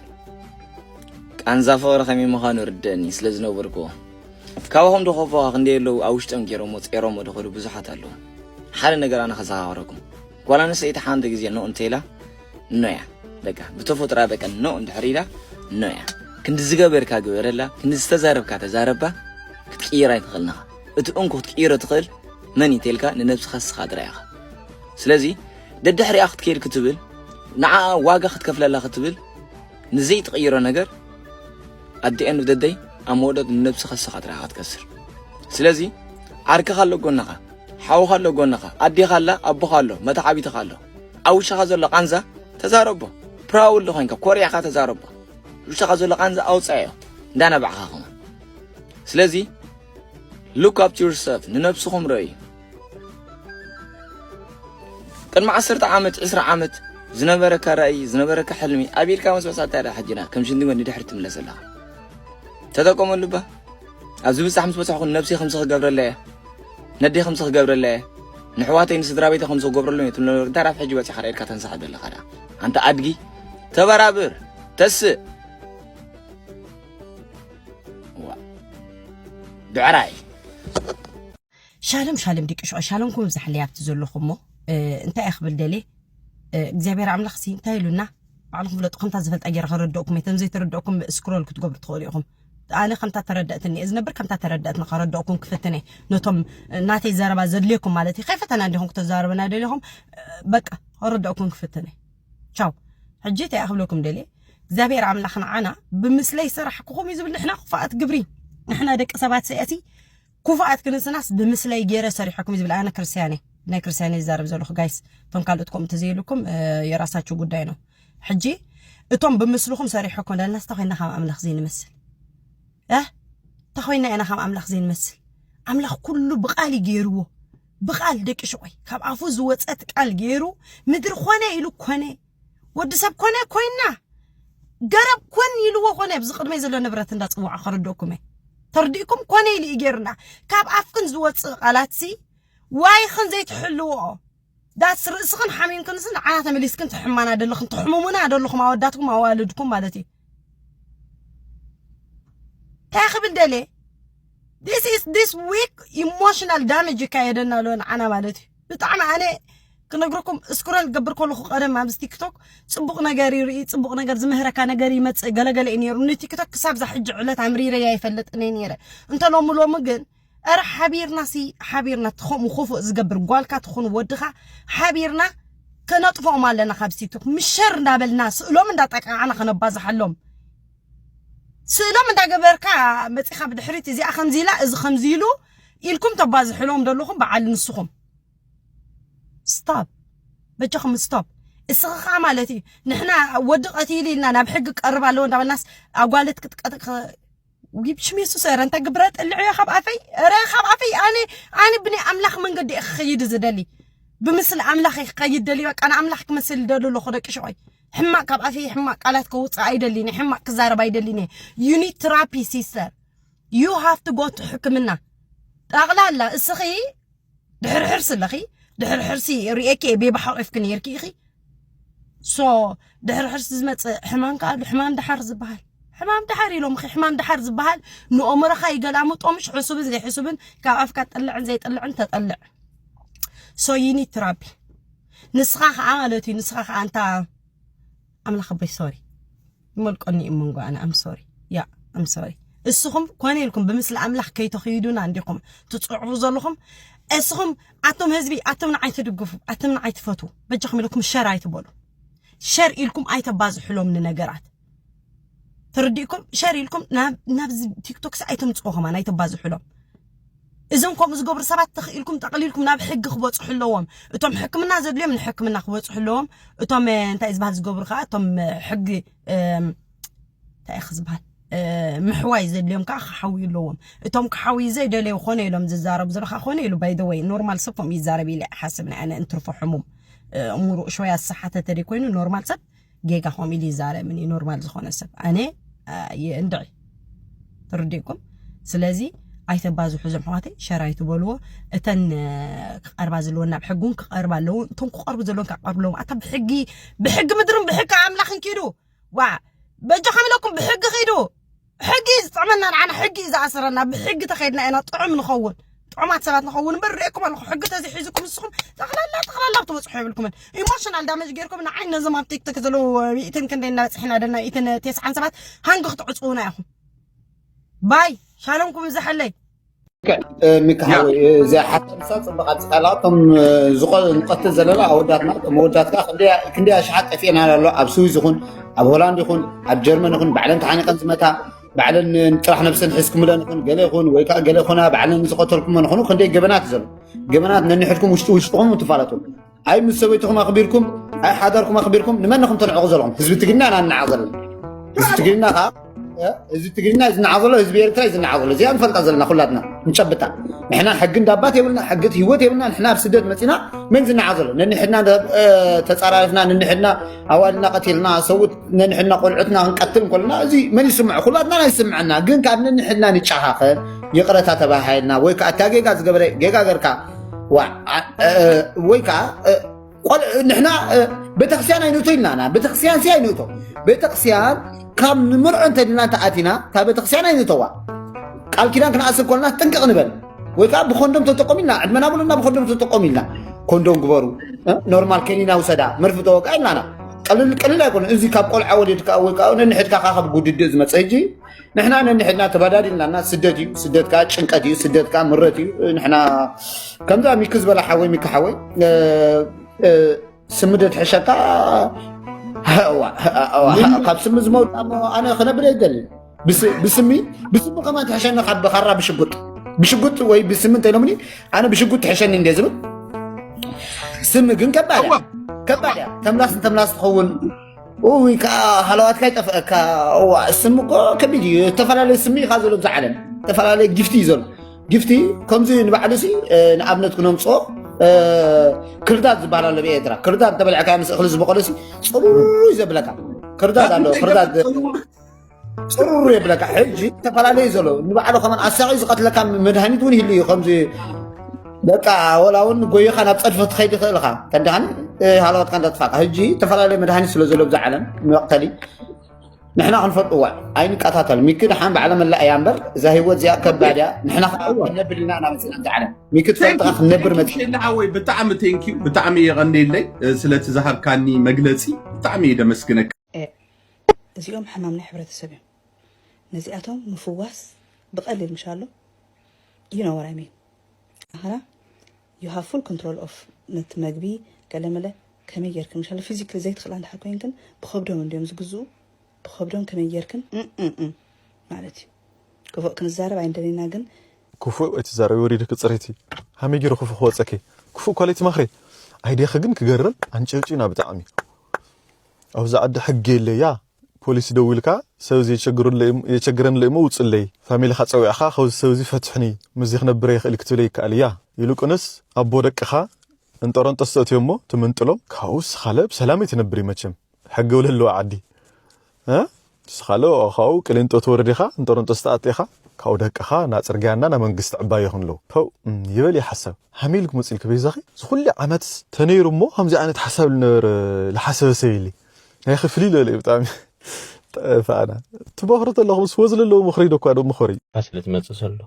ቃንዛ ፍቕሪ ከመይ ምዃኑ ርደእኒ ስለ ዝነበርኩዎ ካባኹም ዶ ከፎኻ ክንደይ ኣለዉ ኣብ ውሽጦም ገይሮሞ ጸይሮሞ ድኸዱ ብዙሓት ኣለዉ ሓደ ነገር ኣነ ከዘኻኽረኩም ጓል ኣንስተይቲ ሓንቲ ግዜ ኖ እንተኢላ ኖ እያ በቃ ብተፈጥሮ በቃ ኖ እንድሕር ኢላ ኖ እያ ክንዲ ዝገበርካ ግበረላ ክንዲ ዝተዛረብካ ተዛረባ ክትቅይር ኣይትኽእልን ኢኻ እቲ እንኩ ክትቅይሮ ትኽእል መን እዩ ተልካ ንነብስኻ ንስኻ ጥራይ ኢኻ ስለዚ ደድሕሪኣ ክትከይድ ክትብል ንዓኣ ዋጋ ክትከፍለላ ክትብል ንዘይትቕይሮ ነገር ኣት ዲ ኤንድ ኦፍ ዘ ደይ ኣብ መወዳእትኡ ንነብስኻ ንስኻ ጥራሕ ኢኻ ትከስር ስለዚ ዓርክኻ ኣሎ ጎንኻ ሓውኻ ኣሎ ጎንኻ ኣዴኻ ኣላ ኣቦኻ ኣሎ መተዓቢትኻ ኣሎ ኣብ ውሽኻ ዘሎ ቃንዛ ተዛረቦ ፕራውድ ኮይንካ ኮሪዕካ ተዛረቦ ውሽኻ ዘሎ ቃንዛ ኣውፃዮ እንዳነበዕኻ ኸማ ስለዚ ሉክ ኣፕ ዩርሰልፍ ንነብስኹም ረእዩ ቅድሚ ዓሰርተ ዓመት ዕስራ ዓመት ዝነበረካ ራእይ ዝነበረካ ሕልሚ ኣቢልካ ምስ በሳታ ዳ ሕጅና ከም ሽንዲ ወዲ ድሕሪ ትምለስ ኣለኻ ተጠቀመሉ ባ ኣብዚ ብጻሕ ምስ በጻሕኩ ነብሲ ከምዚ ክገብረለ እየ ነዲ ከምዚ ክገብረለ እየ ንሕዋተይ ንስድራ ቤተ ከምዚ ክገብረሉ እየ ትብሎ እንታይ ዳብ ሕጂ በጺኻ ዳ ኢድካ ተንሳሕ ዘለኻ ዳ ኣንተ ኣድጊ ተበራብር ተስእ ብዕራይ ሻሎም ሻሎም ደቂ ሸዋ ሻሎምኩም ይብዛሕለይ ኣብቲ ዘለኹሞ እንታይ እየ ክብል ደልየ እግዚኣብሔር ኣምላኽ ሲ እንታይ ኢሉና ባዕልኹም ፍለጡ ከምታ ዝፈልጣ ገይረ ከረድኦኩም እቶም ዘይተረድኦኩም ስክሮል ክትገብሩ ትኽእሉ ኢኹም ኣነ ከምታ ተረዳእትኒ እየ ዝነብር ከምታ ተረዳእትኒ ከረድኦኩም ክፍትን እየ ነቶም ናተይ ዘረባ ዘድልየኩም ማለት እዩ ከይፈተና እንዲኹም ክተዛረበና ደሊኹም በቃ ከረድኦኩም ክፍትን እየ ቻው ሕጂ እንታይ እየ ክብለኩም ደልየ እግዚኣብሔር ኣምላኽ ንዓና ብምስለይ ሰራሕኩኹም እዩ ዝብል ንሕና ክፉኣት ግብሪ ንሕና ደቂ ሰባት ሰያሲ ኩፉኣት ክንስናስ ብምስለይ ጌረ ሰሪሐኩም እዩ ዝብል ኣነ ክርስትያን እየ ናይ ክርስትያን እየ ዝዛረብ ዘለኹ ጋይስ እቶም ካልኦት ከምኡ እንተዘይብልኩም የራሳችሁ ጉዳይ ነው ሕጂ እቶም ብምስልኹም ሰሪሐኩም ለናስ እንታይ ኮይና ካብ ኣምላኽ ዘይንመስል እ እንታይ ኮይና ኢና ካብ ኣምላኽ ዘይንመስል ኣምላኽ ኩሉ ብቃል እዩ ገይርዎ ብቃል ደቂ ሽቆይ ካብ ኣፉ ዝወፀት ቃል ገይሩ ምድሪ ኮነ ኢሉ ኮነ ወዲ ሰብ ኮነ ኮይና ገረብ ኮን ኢልዎ ኮነ ኣብዚ ቅድመይ ዘሎ ንብረት እንዳፅዋዓ ከረድእኩም እየ ተርዲእኩም ኮነ ኢሉ እዩ ጌርና ካብ ኣፍክን ዝወፅእ ቃላትሲ ዋይኽን ዘይትሕልዎ ዳትስ ርእስኽን ሓሚምክንስ ንዓና ተመሊስክን ትሕማና ደለኽን ትሕሙሙና ደለኹም ኣወዳትኩም ኣዋልድኩም ማለት እዩ እንታይ ክብል ደለ ዲስ ኢስ ዲስ ዊክ ኢሞሽናል ዳሜጅ ይካየደና ኣሎ ንዓና ማለት እዩ ብጣዕሚ ኣነ ክነግረኩም እስክሮል ክገብር ከለኹ ቀደም ኣብዚ ቲክቶክ ፅቡቕ ነገር ይርኢ ፅቡቕ ነገር ዝምህረካ ነገር ይመፅእ ገለገለ እዩ ነይሩ ንቲክቶክ ክሳብ ዛ ሕጂ ዕለት ኣምሪረያ ይፈልጥኒ ነይረ እንተ ሎሚ ሎሚ ግን እረ ሓቢርና ሲ ሓቢርና ትኸምኡ ክፉእ ዝገብር ጓልካ ትኹን ወድኻ ሓቢርና ከነጥፍኦም ኣለና ካብ ቲክቶክ ምሸር እንዳበልና ስእሎም እንዳጠቃዕና ከነባዝሓሎም ስእሎም እንዳገበርካ መፂኻ ብድሕሪት እዚኣ ከምዚ ኢላ እዚ ከምዚ ኢሉ ኢልኩም ተባዝሕሎም ደለኹም በዓል ንስኹም ስታፕ በጃኹም ስቶፕ እስኺ ከዓ ማለት እዩ ንሕና ወዲ ቀቲሉ ኢልና ናብ ሕጊ ቀርብ ኣለዎ እንዳበልናስ ኣጓለት ክትቀጥቅ ሽም የሱስ ረ እንታይ ግብረ ጥልዕዮ ካብ ኣፈይ ረ ካብ ኣፈይ ኣነ ኣነ ብናይ ኣምላኽ መንገዲ እየ ክኸይድ ዝደሊ ብምስሊ ኣምላኽ እየ ክኸይድ ደሊ በቃ ንኣምላኽ ክመስል ደሊ ኣለኹ ደቂ ሸቆይ ሕማቅ ካብ ኣፈይ ሕማቅ ቃላት ከውፅእ ኣይደሊን ሕማቅ ክዛረብ ኣይደሊን እየ ዩኒት ትራፒ ሲስተር ዩ ሃቭ ቱ ጎ ቱ ሕክምና ጠቕላላ እስኺ ድሕሪ ሕርሲ ኣለኺ ድሕሪ ሕርሲ ርእኪ እየ ቤቢ ሓቂፍኪ ነይርኪ ኢኺ ሶ ድሕሪ ሕርሲ ዝመፅእ ሕማም ከዓ ኣሎ ሕማም ድሓር ዝበሃል ሕማም ድሓር ኢሎምኺ ሕማም ድሓር ዝበሃል ንኦምሮኻ ይገላምጦ ምሽ ሕሱብን ዘይሕሱብን ካብ ኣፍካ ጥልዕን ዘይጥልዕን ተጠልዕ ሶ ዩኒት ትራቢ ንስኻ ከዓ ማለት እዩ ንስኻ ከዓ እንታ ኣምላኽ ኣቦይ ሶሪ ይመልቆኒ እዩ መንጎ ኣነ ኣም ሶሪ ያ ኣም ሶሪ እስኹም ኮነ ኢልኩም ብምስሊ ኣምላኽ ከይተኽይዱና እንዲኹም ትፅዕሩ ዘለኹም እስኹም ኣቶም ህዝቢ ኣቶም ንዓይ ትድግፉ ኣቶም ንዓይ ትፈቱ በጃኹም ኢለኩም ሸር ኣይትበሉ ሸር ኢልኩም ኣይተባዝሕሎም ንነገራት ተረዲእኩም ሸር ኢልኩም ናብዚ ቲክቶክሲ ኣይተምፅዎ ከማን ኣይተባዝሕሎም እዞም ከምኡ ዝገብሩ ሰባት ተኽኢልኩም ጠቕሊልኩም ናብ ሕጊ ክበጽሑ ኣለዎም እቶም ሕክምና ዘድልዮም ንሕክምና ክበጽሑ ኣለዎም እቶም እንታይ ዝበሃል ዝገብሩ ከዓ እቶም ሕጊ እንታይ ኢኺ ዝበሃል ምሕዋይ ዘድልዮም ከዓ ክሓውዩ ኣለዎም እቶም ክሓውዩ ዘይደለዩ ኮነ ኢሎም ዝዛረቡ ዘለካ ኮነ ኢሉ ባይደወይ ኖርማል ሰብ ከምኡ ይዛረብ ኢለ ሓስብ ናይ ኣነ እንትርፎ ሕሙም እሙሩ እሾያ ዝሰሓተ ተደይ ኮይኑ ኖርማል ሰብ ጌጋ ከምኡ ኢሉ ይዛረብን እዩ ኖርማል ዝኾነ ሰብ ኣነ እንድዒ ትርድእኩም ስለዚ ኣይተባዝሑ ዞም ሕዋተይ ሸራ ይትበልዎ እተን ክቐርባ ዘለወን ናብ ሕጊ እውን ክቐርባ ኣለዎ እቶም ክቐርቡ ዘለዎም ክቐርቡ ኣለዎም ኣታ ብሕጊ ብሕጊ ምድርን ብሕጊ ኣምላኽን ኪዱ ዋ በጃኹም ኢለኩም ብሕጊ ኪዱ ሕጊ እዩ ዝጥዕመና ንዓና ሕጊ እዩ ዝኣስረና ብሕጊ ተኸይድና ኢና ጥዑም ንኸውን ጥዑማት ሰባት ንኸውን እምበር ርእኩም ኣለኹ ሕጊ ተዘይሒዙኩም ንስኹም ጠቕላላ ጠቕላላ ክትበፅሑ የብልኩምን ኢሞሽናል ዳመጅ ገይርኩም ንዓይ ነዞም ኣብ ቲክቶክ ዘለዉ ሚእትን ክንደይ እናበፅሕና ደና ኢትን ቴስዓን ሰባት ሃንጊ ክትዕፅውና ኢኹም ባይ ሻሎምኩም ዝሓለይ ሚካ ሓወይ እዚ ሓሳብሳ ፅብቅ ኣብፅካላ እቶም ንቀትል ዘለና ኣወዳትና እቶም ኣወዳት ከዓ ክንደይ ኣሽሓት ጠፊኤን ኣሎ ኣብ ስዊዝ ይኹን ኣብ ሆላንድ ይኹን ኣብ ጀርመን ይኹን ባዕለን ተሓኒቀን ዝመታ ባዕለን ጥራሕ ነብሰን ሒዝኩምለን ይኹን ገለ ይኹን ወይ ከዓ ገለ ኮና ባዕለን ዝቀተልኩመን ይኹኑ ክንደይ ገበናት እዩ ዘሎ ገበናት ነንሕድኩም ውሽጢ ውሽጥኹም ትፋለጡ ኣይ ምስ ሰበይትኹም ኣኽቢርኩም ኣይ ሓዳርኩም ኣኽቢርኩም ንመን ኢኹም ተንዕቑ ዘለኹም ህዝቢ ትግርና ኢና ንናዕ ዘለና ህዝቢ ትግርና ከዓ ህዝቢ ትግርና እዩ ዝናዓ ዘሎ ህዝቢ ኤርትራ እዩ ዝናዓ ዘሎ እዚኣ ንፈልጣ ዘለና ኩላትና ንጨብጣ ንሕና ሕጊ እንዳባት የብልና ሕጊ ህይወት የብልና ንሕና ኣብ ስደት መፂና መን ዝናዓ ዘሎ ነንሕድና ተፃራሪፍና ነንሕድና ኣዋልና ቀቲልና ሰብኡት ነንሕድና ቆልዑትና ክንቀትል እንከለና እዚ መን ይስምዖ ኩላትና ናይ ስምዐና ግን ካብ ነንሕድና ንጨኻኸን ይቕረታ ተባሃይልና ወይ ከዓ እታ ጌጋ ዝገበረ ጌጋ ገርካ ወይ ከዓ ንሕና ቤተክርስትያን ኣይንእቶ ኢልናና ቤተክርስትያን ሲ ኣይንእቶ ቤተክርስትያን ካብ ንምርዖ እንተድና እንተኣቲና እታ ቤተክርስትያን ኣይንእተዋ ቃል ኪዳን ክንኣስር ኮልና ጥንቅቕ ንበል ወይ ከዓ ብኮንዶም ተጠቆም ኢልና ዕድመና ብሉና ብኮንዶም ተጠቆም ኢልና ኮንዶም ግበሩ ኖርማል ከኒና ውሰዳ መርፊ ተወቃ ኢልናና ቀልል ቀልል ኣይኮነ እዚ ካብ ቆልዓ ወሊድካ ወይ ከዓ ነንሕድካ ካብ ጉድድእ ዝመፀ እጂ ንሕና ነንሕድና ተባዳዲልና እና ስደት እዩ ስደት ከዓ ጭንቀት እዩ ስደት ከዓ ምረት እዩ ንሕና ከምዛ ሚኪ ዝበላ ሓወይ ሚኪ ሓወይ እ፣ እ፣ ስሚ ደትሕሸካ እዋ፣ እዋ፣ ካብ ስሚ ዝመውት እሞ ኣነ ክነብር የደሊ ብስሚ ብስሚ ከማን ትሕሸኒ ካብ ካራ ብሽጉጥ ብሽጉጥ ወይ ብስሚ እንተኢሎምኒ ኣነ ብሽጉጥ ትሕሸኒ እንደ ዝብል ስሚ ግን ከባድ እያ ከባድ እያ ተምላስ ንተምላስ ትኸውን እውይ ከዓ ሃለዋትካ ይጠፍአካ እዋ ስም እኮ ከቢድ እዩ ዝተፈላለየ ስሚ ኢኻ ዘሎ ብዛ ዓለም ዝተፈላለየ ጊፍቲ እዩ ዘሎ ጊፍቲ ከምዚ ንባዕሉ ሲ ንኣብነት ክነምፅኦ ክርዳድ ዝበሃል ኣሎ ብኤርትራ ክርዳድ ተበልዕካ ምስ እኽሊ ዝበቆለ ሲ ፅሩይ ዘብለካ ክርዳድ ኣሎ ክርዳድ ፅሩሩ የብለካ ሕጂ ዝተፈላለዩ ዘሎ ንባዕሉ ከመን ኣሳቂ ዝቀትለካ መድሃኒት እውን ይህሉ እዩ ከምዚ በቃ ወላ እውን ጎይኻ ናብ ፀድፊ ክትኸይድ ይኽእል ኢኻ ተዳን ሃለዋትካ እንዳጥፋእካ ሕጂ ዝተፈላለዩ መድሃኒት ስለ ዘሎ ብዛ ዓለም መቕተሊ ንሕና ክንፈልጥዋ ኣይንቀታተል ሚኪ ድሓን ባዕለ መላእ እያ እምበር እዛ ሂወት እዚኣ ከባድ እያ ንሕና ከዓ ክነብር ኢና ናበፅና እዛ ዓለም ሚኪ ትፈልጥካ ክንነብር መፅ ወይ ብጣዕሚ ቴንኪዩ ብጣዕሚ የቐኒየለይ ስለቲ ዝሃብካኒ መግለፂ ብጣዕሚ ደመስግነካ ኤእ እዚኦም ሕማም ናይ ሕብረተሰብ እዮም ነዚኣቶም ምፍዋስ ብቀሊል ምሽ ኣሎ ዩ ኖው ዋት ኣይ ሚን ኣክና ዩ ሃቭ ፉል ኮንትሮል ኦፍ ነቲ መግቢ ገለመለ ከመይ ጌርክን ምሽ ኣሎ ፊዚክሊ ዘይትክእላ እንድሕር ኮይንክን ብከብዶም እንድዮም ዝግዝኡ ብከብዶም ከመይ ጌርክን እእእእ ማለት እዩ ክፉእ ክንዛረብ ኣይንደሊና ግን ክፉእ ኣይትዛረቢ ወሪድኪ ፅሪቲ ሃመይ ጌረ ክፉእ ክወፀኪ ክፉእ እኳ ለይትመክሪ ኣይዲያኺ ግን ክገርም ኣንጨውጪና ብጣዕሚ ኣብዛ ዓዲ ሕጊ የለ እያ ፖሊስ ደዊልካ ሰብ እዚ የቸግረኒ ኣሎ እዩሞ ውፅለይ ፋሚሊኻ ፀዊዕኻ ካብዚ ሰብ እዚ ፈትሕኒ ምስዚ ክነብረ ይኽእል ክትብለ ይከኣል እያ ይልቁንስ ኣቦ ደቅኻ እንጦሮንጦስ ተእትዮሞ ትምንጥሎም ካብኡ እስኻለ ብሰላም እዩ ትነብር እዩ መቸም ሕጊ ውለለዋ ዓዲ እ ንስኻ ለኦ ካብኡ ቅሊንጦ ትወርድ ኢኻ እንጦሮንጦስ ትኣቲ ኢኻ ካብኡ ደቅኻ ናብ ጽርግያ እንዳ ናብ መንግስቲ ዕባዮ ክንልው ፐው ይበል ኢዩ ሓሳብ ሃም ኢልኪ ሙጽ ኢልኪ በይዛኺ እዚ ኩሉ ዓመትስ ተነይሩ እሞ ከምዚ ዓይነት ሓሳብ ልነበረ ልሓሰበ ሰብ የለይ ናይኺ ፍልይ ልበለ ኢዩ ብጣዕሚ ጠፋእና ትመኽሩ ተለኹም ስወ ዝለለዎ ምኽሪ ኢዶ እኳ ዶ ምኸሪ። ስለ ዝመጽእ ዘሎ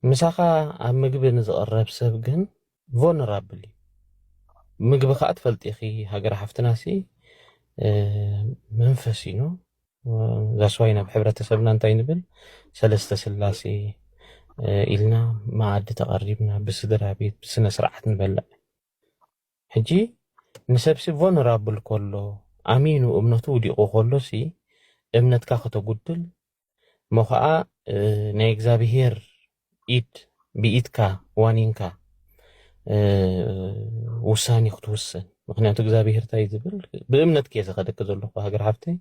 ምሳኻ ኣብ ምግቢ ንዝቕረብ ሰብ ግን ቮነራብል እዩ ምግቢ ከኣ ትፈልጢ ኢኪ ሃገረ ሓፍትና ሲ መንፈስ እዩ ዛስ ዋይ ናብ ሕብረተሰብና እንታይ ንብል ሰለስተ ስላሴ ኢልና መኣዲ ተቀሪብና ብስድራ ቤት ብስነ ስርዓት ንበልዕ ሕጂ ንሰብሲ ቮነራብል ከሎ ኣሚኑ እምነቱ ውዲቁ ከሎ ሲ እምነትካ ከተጉድል እሞ ኸኣ ናይ እግዚኣብሄር ኢድ ብኢድካ ዋኒንካ ውሳኔ ክትውስን ምክንያቱ እግዚኣብሄር እንታይ ዝብል ብእምነት ከየ ዝኸደኪ ዘለኹ ሃገር ሓፍተይ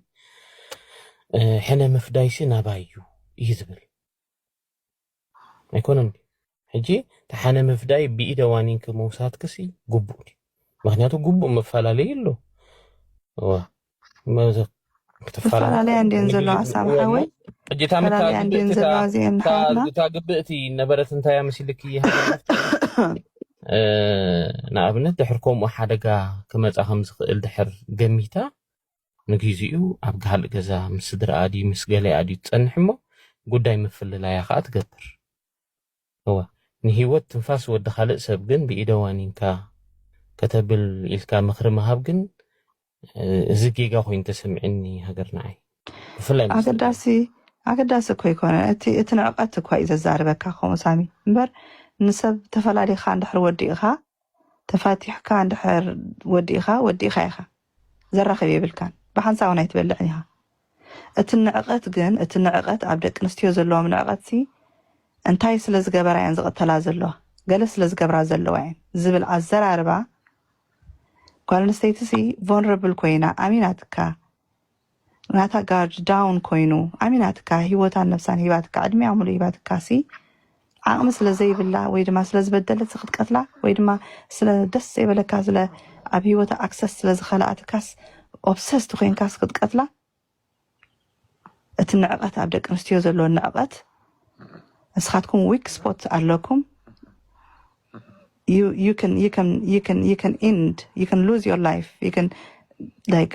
ሕነ ምፍዳይሲ ናባይ እዩ እዩ ዝብል ኣይኮነን ድዩ ሕጂ ተሓነ ምፍዳይ ብኢደ ዋኒንኪ ምውሳድክሲ ጉቡእ ድዩ ምክንያቱ ጉቡእ መፈላለዩ ኣሎ እወ መዘ ክተፈላለያ እንዲን ዘለዋ ኣሳብ ሓወይ ሕጂ እታ ምታ ግብእቲ እታ ግብእቲ ነበረት እንታያ መሲልኪ ንኣብነት ድሕር ከምኡ ሓደጋ ክመፃ ከም ዝኽእል ድሕር ገሚታ ንጊዚኡ ኣብ ጋህልእ ገዛ ምስ ስድራኣ ድዩ ምስ ገሊኣ ድዩ ትጸንሕ እሞ ጉዳይ ምፍልላያ ከኣ ትገብር። እወ ንሂወት ትንፋስ ወዲ ካልእ ሰብ ግን ብኢደ ዋኒንካ ከተብል ኢልካ ምኽሪ ምሃብ ግን እዚ ጌጋ ኮይኑ ተሰሚዕኒ ሃገር ንዓይ ብፍላይ ምስ ደቂ ኣገዳሲ ኣገዳሲ እኮ ኣይኮነን እቲ እቲ ንዕቀት እኳ እዩ ዘዛርበካ ከምኡ ሳሚ እምበር ንሰብ ተፈላሊኻ እንድሕር ወዲእኻ ተፋቲሕካ እንድሕር ወዲእኻ ወዲእኻ ኢኻ ዘራኽብ የብልካን ብሓንሳብ እውን ኣይትበልዕን ኢኻ እቲ ንዕቐት ግን እቲ ንዕቐት ኣብ ደቂ ኣንስትዮ ዘለዎም ንዕቐት ሲ እንታይ ስለ ዝገበራ እየን ዝቕተላ ዘለዋ ገለ ስለ ዝገብራ ዘለዋ እየን ዝብል ኣዘራርባ ጓል ኣንስተይቲ ሲ ቮንረብል ኮይና ኣሚናትካ ናታ ጋርድ ዳውን ኮይኑ ኣሚናትካ ሂወታን ነብሳን ሂባትካ ዕድሚኣ ሙሉእ ሂባትካ ሲ ዓቅሚ ስለ ዘይብላ ወይ ድማ ስለ ዝበደለት ሲ ክትቀትላ ወይ ድማ ስለ ደስ ዘይበለካ ስለ ኣብ ሂወታ ኣክሰስ ስለ ዝኸለኣትካስ ኦብሰስት ኮይንካስ ክትቀትላ እቲ ንዕቀት ኣብ ደቂ ኣንስትዮ ዘሎ ንዕቀት ንስኻትኩም ዊክ ስፖት ኣለኩም you you can you can you can you can end you can lose your life you can like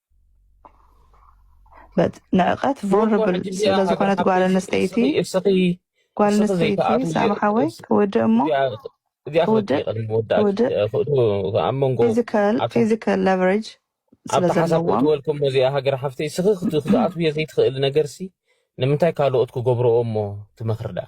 ንዕቀት ቮልነራብል ስለ ዝኾነት ጓል ኣንስተይቲ ጓል ኣንስተይቲ ሳሚ ሓወይ ክውድእ እሞ ክውድእ ክውድእ ፊዚካል ፊዚካል ለቨሬጅ ስለ ኣብቲ ሓሳብ ዘለዎም ክትወልኩም እዚኣ ሃገር ሓፍተይ ስኺ ክት- ክትኣትውዮ ዘይትኽእል ነገርሲ ንምንታይ ካልኦት ክገብርኦ እሞ ትመኽሪ ደኣ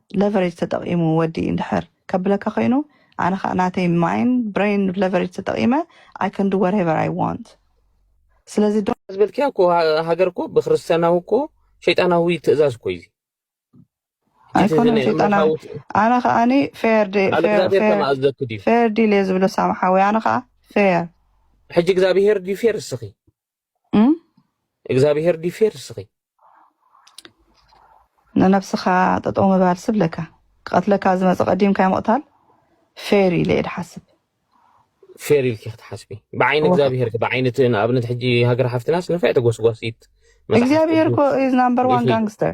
ለቨሬጅ ተጠቂሙ ወዲ እንድሕር ከብለካ ኮይኑ ኣነ ከኣ ናተይ ማይን ብረይን ለቨሬጅ ተጠቂመ ኣይ ካን ዱ ዋትኤቨር ኣይ ዋንት ስለዚ ዶ ዝበልክያ እኮ ሃ- ሃገር እኮ ብክርስትያናዊ እኮ ሸይጣናዊ ትእዛዝ እኮ እዩ እዚ እቲ ኣይኮነን ናይ ሸይጣናዊ ኣምላካዊ ኣነ ከኣኒ ፌር ዲ- ቃል ፌር እግዚኣብሔር ፌር ተማእዘኩ ድዩ ፌር ዲል እየ ዝብሎ ሳምሓዊ ኣነ ከዓ ፌር ሕጂ እግዚኣብሔር ድዩ ፌር እስኺ እግዚኣብሄር ድዩ ፌር እስኺ ንነብስኻ ጠጠው ምባል ስብለካ ክቐትለካ ዝመፀ ቀዲምካ ምቕታል ፌር ኢለ እየ ድሓስብ ፌር ኢልኪ ክትሓስቢ ብዓይኒ እግዚኣብሄር ብዓይኒ እቲ ንኣብነት ሕጂ ሃገር ሓፍትናስ ንፍዕ ተጎስጓሲት እግዚኣብሄር እኮ ኢዝ ናምበር ዋን ጋንግስተር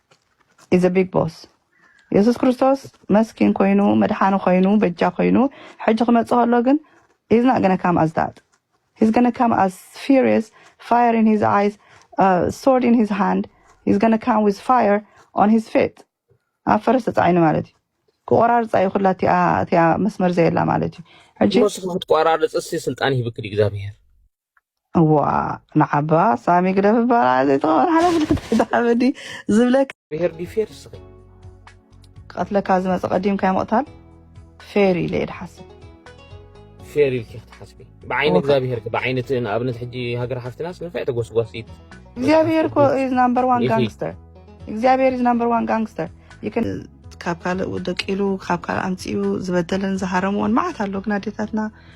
ኢዘ ቢግ ቦስ የሱስ ክርስቶስ መስኪን ኮይኑ መድሓኒ ኮይኑ በጃ ኮይኑ ሕጂ ክመጽእ ከሎ ግን ሂዝ ናት ገነ ካም ኣስ ዳት ሂዝ ገነ ካም ኣስ ፊሪየስ ፋየር ኢን ሂዝ ኣይስ ሶርድ ኢን ሂዝ ሃንድ ሂዝ ገነ ካም ዊዝ ፋየር ኦን ሂዝ ፌት ኣብ ፈረስ ተጻዒኑ ማለት እዩ ክቆራርፃ እዩ ኩላ እቲኣ መስመር ዘየላ ማለት እዩ ሕጂ ንስኻ ክትቆራርፅ ሲ ስልጣን ሂብክድ እግዚኣብሄር እዋ ንዓባ ሳሚ ግደፍ እባላ ዘይተቐበል ሓላፍነት ኣይትሓመዲ ዝብለካ ብሄር ድዩ ፌር እስኺ ክቐትለካ ዝመፀ ቀዲምካ ምቕታል ፌር ኢለ እየ ድሓስብ ፌር ኢልኪ ክትሓስቢ ብዓይኒ እወ እግዚኣብሄር ከ ብዓይኒ እቲ ንኣብነት ሕጂ ሃገር ሓፍትናስ ንፋዕ ተጎስጓሲት እግዚኣብሄር መፅሓፍቲ እኮ ቁዱስ ኢዝ ናምበር ዋን ኢኺ ጋንግስተር እግዚኣብሄር ኢዝ ናምበር ዋን ጋንግስተር ካብ ካልእ ደቂሉ ካብ ካልእ ኣምፂኡ ዝበደለን ዝሃረምዎን መዓት ኣሎ ግን ኣዴታትና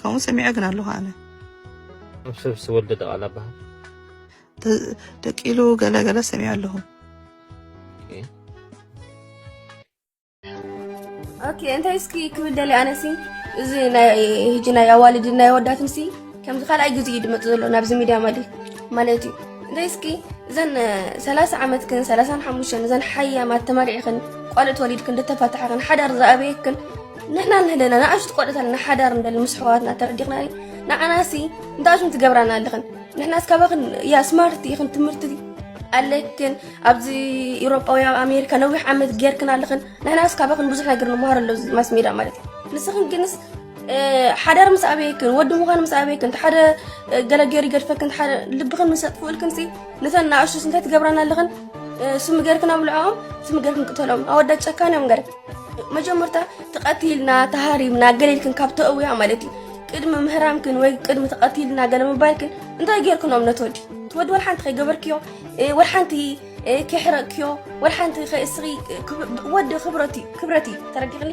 ከምኡ ሰሚዐ ግን ኣለኹ ኣነ ኣብ ሰብ ዝተወልደ ደቓላ በሃል ደቂሉ ገለገለ ሰሚዐ ኣለኹ ኦኬ እንታይ እስኪ ክብል ደሊ ኣነሲ እዚ ህጂ ናይ ኣዋልድ ናይ ኣወዳትን ሲ ከምዚ ካልኣይ ግዜ እዩ ድመፅ ዘሎ ናብዚ ሚድያ ማለት ማለት እዩ እንታይ እስኪ እዘን ሰላሳ ዓመትክን ሰላሳን ሓሙሽተን እዘን ሓያማት ተመሪዕክን ቋልዑ ተወሊድክን ደተፋትሐክን ሓዳር ዝኣበየክን ንሕና ኣለና ንኣሽቱ ቆልዑት ኣለና ሓዳር ንደሊ ምስ ኣሕዋትና ተረዲኽና ንዓናሲ እንታይ ሽም ትገብራና ኣለኽን ንሕናስ ካባኽን ያ ስማርት ኢኽን ትምህርቲ ኣለክን ኣብዚ ኤውሮጳ ወይ ኣብ ኣሜሪካ ነዊሕ ዓመት ጌርክን ኣለኽን ንሕናስ ካባኽን ብዙሕ ነገር ንምሃር ኣሎ ማስ ሜዳ ማለት እዩ ንስኽን ግንስ ሓዳር ምስ ኣበየክን ወዲ ምዃን ምስ ኣበየክን እቲ ሓደ ገለ ገይሩ ይገድፈክን እቲ ሓደ ልብኽን ምስ ኣጥፍኡልክን ሲ ነተን ንኣሽቱስ እንታይ ትገብራና ኣለኽን ስሚ ገርክን ኣብልዖኦም ስሚ ገርክን ቅተሎም ኣወዳት ጨካን እዮም ገር መጀመርታ ተቐቲልና ተሃሪምና ገለ ኢልክን ካብ ተእውያ ማለት እዩ ቅድሚ ምህራምክን ወይ ቅድሚ ተቐቲልና ገለ ምባልክን እንታይ ጌርክን እምነት ወዲ ትወዲ ወል ሓንቲ ከይገበርክዮ ወል ሓንቲ ከይሕረቅክዮ ወል ሓንቲ ከይእስኺ ወዲ ክብረት እዩ ክብረት እዩ ተረዲኽኒ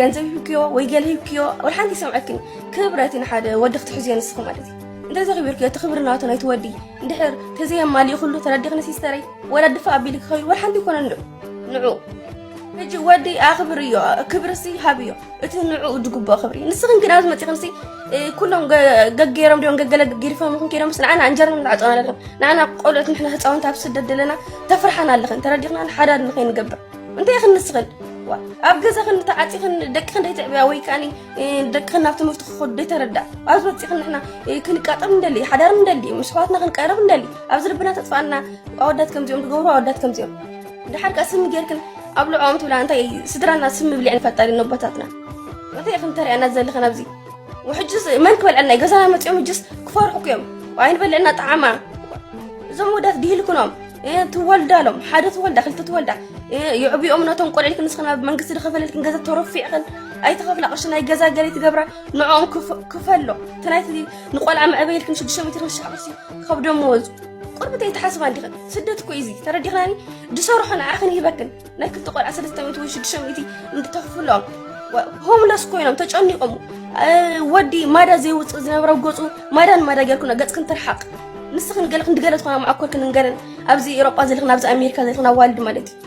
ገንዘብ ሂብክዮ ወይ ገለ ሂብክዮ ወል ሓንቲ ይሰምዐክን ክብረት እዩ ንሓደ ወዲ ክትሕዝዮ ንስኺ ማለት እዩ እንተ ዘኽቢርክዮ እቲ ክብሪ ናቱ ናይቲ ወዲ እንድሕር ተዘየማልኡ ኩሉ ተረዲኽኒ ሲስተረይ ወላ ድፋእ ኣቢልክ ከይዱ ወል ሓንቲ ይኮነን ዶ ንዑ ሕጂ ወዲ ኣኽብርዮ ክብርሲ ሃብዮ እቲ ንዕኡ ዝግብኦ ክብሪ ንስኽን ግን ኣብዚ መፂኽንሲ ኩሎም ገገይሮም ድዮም ገገለ ገጊርፎም ይኹን ከይዶምስ ንዓና እንጀርና ንዓፀና ኣለኽን ንዓና ቆልኦት ንሕና ህፃውንቲ ኣብ ስደት ዘለና ተፍርሓና ኣለኽን ተረዲኽና ንሓዳድ ንኸይንገብር እንታይ ይኽን ንስኽን ኣብ ገዛኽን ተዓፂኽን ደቅኽን ደይትዕብያ ወይ ከዓኒ ደቅኽን ናብ ትምህርቲ ክኸዱ ደይተረዳእ ኣብዚ መፂኽን ንሕና ክንቃጠም እንደሊ ሓዳር እንደሊ ምስ ኣሕዋትና ክንቀርብ እንደሊ ኣብዚ ልብና ተፅፋና ኣወዳት ከምዚኦም ዝገብሩ ኣወዳት ከምዚኦም ድሓር ከ ስሚ ጌርክን ኣብ ልዕኦም ትብላ እንታይ ስድራና ስሚ ብልዕን ፈጣሪ ነቦታትና እንታይ ኢኽን ተርእያና ዘለኽን ኣብዚ ውሕጅስ መን ክበልዐና እዩ ገዛና መፂኦም እጅስ ክፈርሑኩ እዮም ኣይንበልዕና ጣዕማ እዞም ወዳት ድሂልክኖም ትወልዳሎም ሓደ ትወልዳ ክልተ ትወልዳ ይዕብኦም ነቶም ቆልዕልክን ንስኽና መንግስቲ ዝኸፈለልክን ገዛ ተረፊዕኽን ኣይተኸፍላ ቅርሺ ናይ ገዛ ገለ ትገብራ ንዕኦም ክፈሎ እቲ ናይቲ ንቆልዓ መዕበይልክን ሽዱሽተ ሚትር ክሻዕ ቅርሺ ከብዶም ወዙ ቁርብት ኣይትሓስባ እንዲኽን ስደት እኮ ኢዚ ተረዲኽናኒ ዝሰርሖ ንዓኽን ይህበክን ናይ ክልተ ቆልዓ ሰለስተ ሚእቲ ወይ ሽዱሽተ ሚእቲ እንድተኽፍሎም ሆምለስ ኮይኖም ተጨኒቆም ወዲ ማዳ ዘይውፅእ ዝነበረ ገፁ ማዳን ማዳ ጌርኩና ገፅክን ትርሓቅ ንስኽን ገለ ክንዲ ገለ ዝኾና መዓኮርክን ንገረን ኣብዚ ኤሮጳ ዘልኽን ኣብዚ ኣሜሪካ ዘልኽን ኣዋልድ ማለት እዩ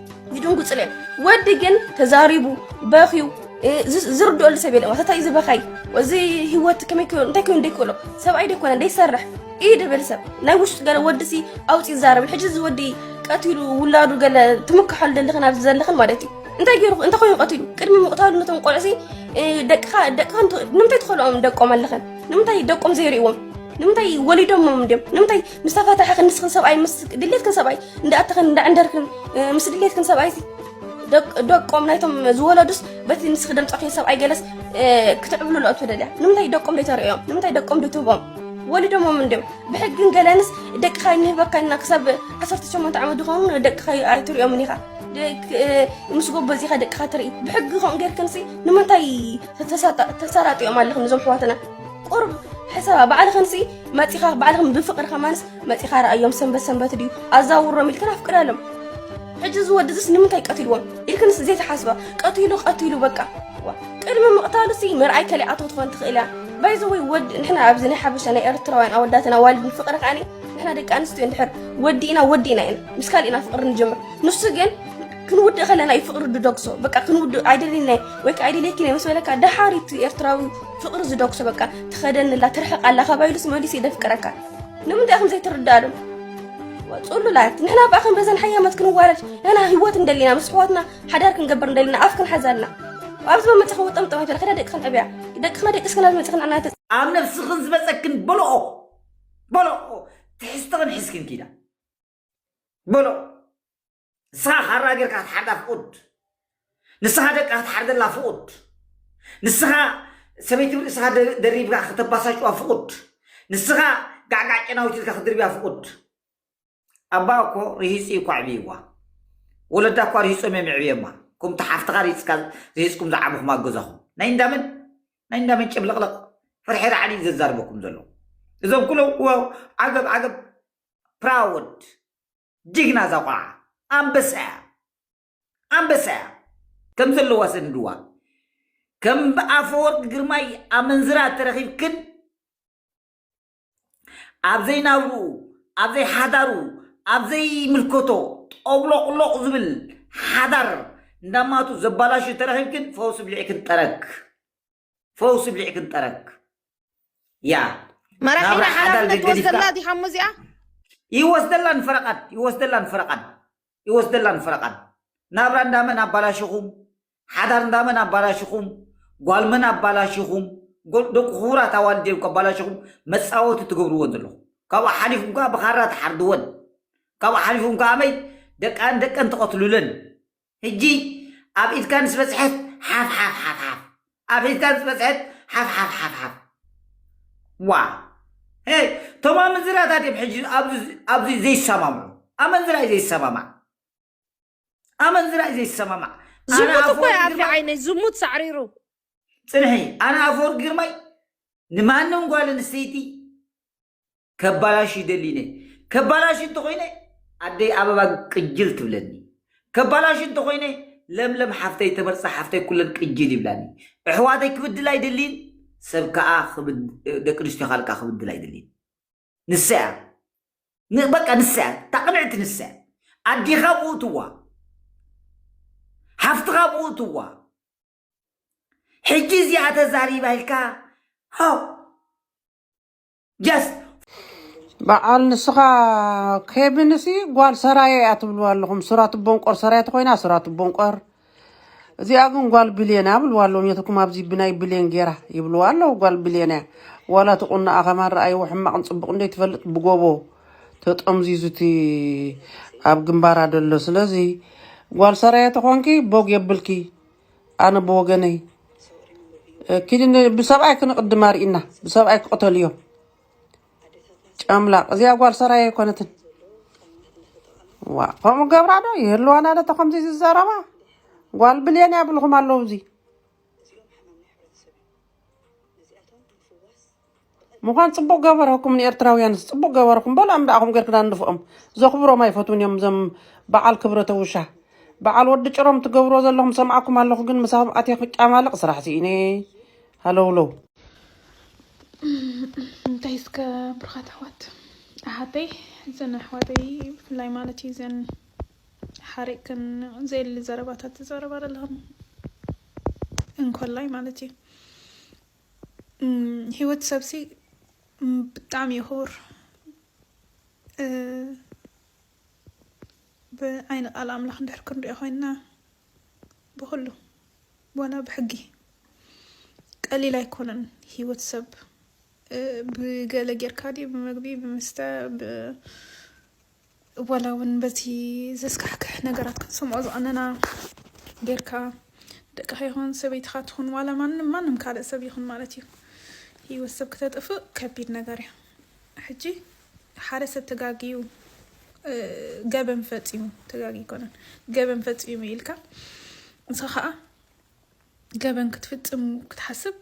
ይድንጉፅለ ወዲ ግን ተዛሪቡ በኽዩ ዝርድኦሉ ሰብ የለ ማለታ እዩ ዝበኻይ እዚ ህይወት ከመይ ክሎ እንታይ ኮይኑ ደይክእሎ ሰብኣይ ደይኮነ ደይሰርሕ እዩ ድብል ሰብ ናይ ውሽጡ ገለ ወዲ ሲ ኣውፅ ይዛረብ ሕጂ እዚ ወዲ ቀትሉ ውላዱ ገለ ትምክሓሉ ዘለኽን ኣብዚ ዘለኽን ማለት እዩ እንታይ ገይሩ እንታይ ኮይኑ ቀትሉ ቅድሚ ምቕታሉ ነቶም ቆልዑ ሲ ደቅኻ ደቅኻ ንምንታይ ትኸልኦም ደቆም ኣለኽን ንምንታይ ደቆም ዘይርእዎም ንምንታይ ወሊዶሞም ድም ንምንታይ ምስ ተፈታሕኽን ንስኽን ሰብኣይ ምስ ድሌትክን ሰብኣይ እንዳእተኽን እንዳዕንደርክን ምስ ድሌትክን ሰብኣይ ደቆም ናይቶም ዝወለዱስ በቲ ንስኺ ደምፀኺ ሰብኣይ ገለስ ክትዕብሉ ለኦ ትደልያ ንምንታይ ደቆም ደይተርእዮም ንምንታይ ደቆም ድትህቦም ወሊዶሞም እንድም ብሕግን ገለንስ ደቅኻ ይንህበካ ኢና ክሳብ 18 ዓመት ዝኾኑ ደቅኻ ኣይትሪኦምን ኢኻ ምስ ጎበዚኻ ደቅኻ ትርኢ ብሕጊ ከምኡ ጌርክንሲ ንምንታይ ተሰራጢኦም ኣለኹም እዞም ኣሕዋትና ቁርብ ሕሰባ ባዕልኽንሲ መፂኻ ባዕልኽን ብፍቅሪ ከማንስ መፂኻ ረኣዮም ሰንበት ሰንበት ድዩ ኣዛውሮም ኢልክን ኣፍቅዳሎም ሕጂ እዚ ወዲ እዚስ ንምንታይ ቀትልዎም ኢልክንስ ዘይተሓስባ ቀትሉ ቀትሉ በቃ ቅድሚ ምቕታሉሲ ምርኣይ ከሊኣቶ ትኾን ትኽእል እያ ባይዘ ወይ ወዲ ንሕና ኣብዚ ናይ ሓበሻ ናይ ኤርትራውያን ኣወዳትን ኣዋልድን ፍቅሪ ከዓኒ ንሕና ደቂ ኣንስትዮ እንድሕር ወዲእና ወዲእና ኢና ምስ ካልእና ፍቅሪ ንጀምር ንሱ ግን ክንውድእ ከለና እዩ ፍቅሪ ድደግሶ በቃ ክንውድእ ኣይደልናይ ወይ ከዓ ኣይደልየኪን ምስ በለካ ደሓር እቲ ኤርትራዊ ፍቅሪ ዝደኩሶ በቃ ትኸደኒ ኣላ ትርሕቅ ኣላ ካባይ ኢሉስ መሊሱ ይደፍቅረካ ንምንታይ ከም ዘይትርዳእሎም ፅሉላት ንሕና በኣ ከም በዘን ሓያማት ክንዋረድ ንሕና ህይወት እንደሊና ምስ ኣሕዋትና ሓዳር ክንገብር እንደሊና ኣፍ ክንሓዝ ኣልና ኣብዚ መመፀ ክወጠም ጥማት በለ ከዳ ደቂ ክንዕብያ ደቅና ደቂ ስክና ዝመፀ ክንዓና ኣብ ነብስኽን ዝበፀክን በልኦ በልኦ ትሕዝትኽን ሕዝክን ኪዳ በልኦ ንስኻ ካራ ጌርካ ክትሓርዳ ፍቑድ ንስኻ ደቃ ክትሓርደላ ፍቑድ ንስኻ ሰበይቲ ብርእስኻ ደሪብካ ከተባሳጭዋ ፍቑድ ንስኻ ጋዕጋዕ ጨናዊት ኢልካ ክትድርብያ ፍቑድ ኣባ እኮ ርሂፁ እዩ እኳ ዕብይዋ ወለዳ እኳ ርሂፆም እዮም ዕብየማ ከምቲ ሓፍትኻ ሪፅካ ርሂፅኩም ዝዓብኹም ኣገዛኹም ናይ እንዳመን ናይ እንዳመን ጭብልቕልቕ ሕርሕር ዓሊ ዘዛርበኩም ዘሎ እዞም ኩሎም ዓገብ ዓገብ ፕራውድ ጅግና እዛ ቆልዓ ኣንበሳ እያ ኣንበሳ እያ ከም ዘለዋ ሰንድዋ ከም ብኣፈወርቅ ግርማይ ኣመንዝራ ተረኺብክን ኣብ ዘይናብርኡ ኣብ ዘይሓዳሩ ኣብ ዘይምልከቶ ጦብሎቕሎቕ ዝብል ሓዳር እንዳማቱ ዘባላሹ ተረኺብክን ፈውሲ ብሊዕክን ጠረግ ፈውሲ ብሊዕ ክንጠረክ ያ መራሒና ሓላፍነት ትወስደላ ዲኻ እሞ እዚኣ ይወስደላን ፈረቓን ይወስደላን ፈረቓን ይወስደላን ፈረቓን ናብራ እንዳመን ኣባላሽኹም ሓዳር እንዳመን ኣባላሽኹም ጓልመን ኣባላሽኹም ደቂ ክቡራት ኣዋልድ እዮም ከባላሽኹም መፃወቲ ትገብርዎን ዘለኹም ካብኡ ሓሊፉም ከዓ ብኻራ ትሓርድወን ካብኡ ሓሊፉም ከዓ መይ ደቃን ደቀን ትቐትሉለን ህጂ ኣብ ኢድካ ምስ በጽሐት ሓፍ ሓፍ ሓፍ ሓፍ ኣብ ኢድካ ምስ በጽሐት ሓፍ ሓፍ ሓፍ ሓፍ ዋ ሄይ ቶም ኣመንዝራታት እዮም ሕጂ ኣብዚ ዘይሰማምዑ ኣመንዝራ እዩ ዘይሰማማዕ ኣመንዝራ እዩ ዘይሰማማዕ ዝሙት እኮ ይኣፊ ዓይነይ ዝሙት ሳዕሪሩ ፅንሒ ኣነ ኣፈወርቂ ግርማይ ንማንም ጓል ኣንስተይቲ ከባላሽ ይደሊ ነ ከባላሽ እንተኾይነ ኣደይ ኣበባ ቅጅል ትብለኒ ከባላሽ እንተኾይነ ለምለም ሓፍተይ ተመርፃ ሓፍተይ ኩለን ቅጅል ይብላኒ ኣሕዋተይ ክብድል ኣይደሊን ሰብ ከዓ ደቂ ኣንስትዮ ካልካ ክብድል ኣይደሊን ንሳ እያ ን- በቃ ንሳ እያ ታቕንዕቲ ንሳ እያ ኣዲኻ ብኡ ትዋ ሓፍትኻ ብኡ ትዋ ሕጂ እዚኣ ተዛሪባ ኢልካ ሆ ጀስ በዓል ንስኻ ኬብን ሲ ጓል ሰራየ እያ ትብልዋ ኣለኹም ሱራት ቦንቆር ሰራየ ተኮይና ሱራት ቦንቆር እዚኣ ግን ጓል ብሌን እያ ብልዋ ኣለዎም የትኩም ኣብዚ ብናይ ብሌን ጌራ ይብልዋ ኣለዉ ጓል ብሌን እያ ዋላ እቲ ቁናኣ ከማን ረኣይዎ ሕማቕን ፅቡቕ እንደ ትፈልጥ ብጎቦ ተጠምዚዙ እቲ ኣብ ግንባራ ደሎ ስለዚ ጓል ሰራየ ተኾንኪ ቦግ የብልኪ ኣነ ብወገነይ ኪዲ ብሰብኣይ ክንቕድማ ርኢና ብሰብኣይ ክቕተሉ እዮም ጨምላቕ እዚኣ ጓል ሰራይ ኣይኮነትን ዋ ከምኡ ገብራ ዶ ይህልዋና ዶ ተከምዚ ዝዘረባ ጓል ብልየን ያብልኹም ኣለዉ እዚ ምዃን ፅቡቅ ገበረኩም ንኤርትራውያንስ ፅቡቅ ገበርኩም በል ኣንዳኣኹም ገርክና ንድፍኦም ዘኽብሮም ኣይፈትውን እዮም ዘም በዓል ክብረተ ውሻ በዓል ወዲ ጭሮም ትገብሮ ዘለኹም ሰምዓኩም ኣለኹ ግን ምሳኹም ኣትየ ክጫማልቕ ስራሕ ስኢነ ሃለውለው እንታይ እስከ ብርኻት ኣሕዋት ኣሓተይ እዘን ኣሕዋተይ ብፍላይ ማለት እዩ ዘን ሓሪቅክን ዘየሊ ዘረባታት ዝዘረባ ዘለኹም እንኮላይ ማለት እዩ ሂወት ሰብሲ ብጣዕሚ እዩ ክቡር ብዓይኒ ቃል ኣምላኽ እንድሕር ክንሪኦ ኮይንና ብኩሉ ዋላ ብሕጊ ቀሊል ኣይኮነን ሂወት ሰብ ብገለ ጌርካ ድዩ ብመግቢ ብምስተ ዋላ እውን በቲ ዘስካሕክሕ ነገራት ክንሰምዖ ዝቐነና ጌርካ ደቅኻ ይኹን ሰበይትኻ ትኹን ዋላ ማንም ማንም ካልእ ሰብ ይኹን ማለት እዩ ህይወት ሰብ ክተጥፍእ ከቢድ ነገር እዩ ሕጂ ሓደ ሰብ ተጋግዩ ገበን ፈፂሙ ተጋጊ ይኮነን ገበን ፈፂሙ ኢልካ ንስኻ ከዓ ገበን ክትፍፅም ክትሓስብ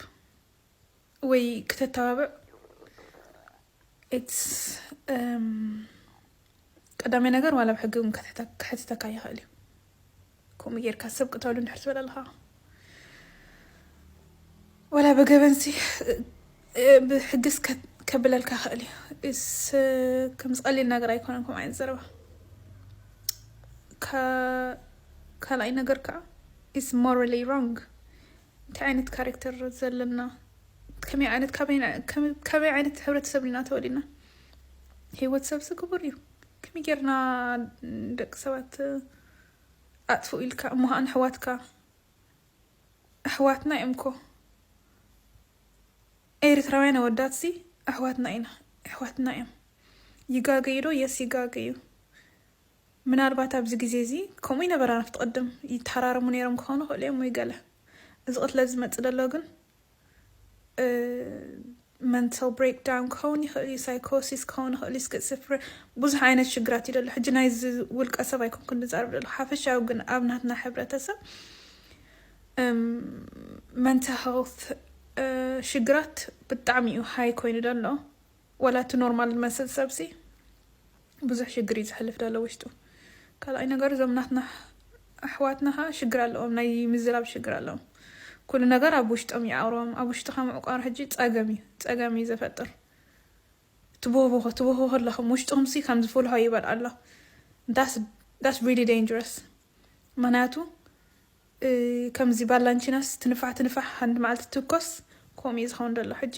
ወይ ክተተባብዕ ቀዳማይ ነገር ዋላ ብ ሕጊ እውን ክሕትተካ ይኽእል እዩ ከምኡ ጌርካ ሰብ ቅተሉ እንድሕር ትበል ኣለኻ ወላ ብገበንሲ ብሕግስ ከብለልካ ይኽእል እዩ ከም ዝቐሊል ነገር ኣይኮነን ከምኡ ዓይነት ዘረባ ካልኣይ ነገር ከዓ ኢስ ሞራሊ ሮንግ እንታይ ዓይነት ካሬክተር ዘለና ከመይ ዓይነት ካበይ ዓይነት ሕብረተሰብ ኢና ተወሊድና ህይወት ሰብሲ ክቡር እዩ ከመይ ጌርና ደቂ ሰባት ኣጥፍኡ ኢልካ እሞ ከዓ ንሕዋትካ ኣሕዋትና እዮም እኮ ኤርትራውያን ኣወዳት ሲ ኣሕዋትና ኢና ኣሕዋትና እዮም ይጋገዩ ዶ የስ ይጋገዩ ምናልባት ኣብዚ ግዜ እዚ ከምኡ ይነበራ ናብቲ ቅድም ይተሃራረሙ ነይሮም ክኾኑ ይኽእሉ እዮም ወይ ገለ እዚ ቅትለት ዝመጽእ ደሎ ግን መንታል ብሬክ ዳውን ክኸውን ይኽእል እዩ ሳይኮሲስ ክኸውን ይኽእል እዩ ስክስፍረ ብዙሕ ዓይነት ሽግራት እዩ ደሎ ሕጂ ናይዚ ውልቀ ሰብ ኣይኮንኩን ዝዛርብ ደሎ ሓፈሻዊ ግን ኣብ ናትና ሕብረተሰብ መንታል ሄልት ሽግራት ብጣዕሚ እዩ ሃይ ኮይኑ ደሎ ዋላ እቲ ኖርማል ዝመስል ሰብሲ ብዙሕ ሽግር እዩ ዘሕልፍ ዘሎ ውሽጡ። ካልኣይ ነገር እዞም ናትና ኣሕዋትና ከዓ ሽግር ኣለዎም ናይ ምዝራብ ሽግር ኣለዎም። ኩሉ ነገር ኣብ ውሽጦም እዩ ኣውሮም ኣብ ውሽጥኻ ምዕቋር ሕጂ ጸገም እዩ ጸገም እዩ ዘፈጥር። ትቦህቦሆ ትቦህቦሆ ኣለኹም ውሽጥኹምሲ ከም ዝፍልሖ ይበል ኣሎ ዳስ ዳስ ሪሊ ዴንጀረስ ምክንያቱ ከምዚ ባላንቺናስ ትንፋሕ ትንፋሕ ሓንቲ መዓልቲ ትኮስ ከምኡ እዩ ዝኸውን ዘሎ ሕጂ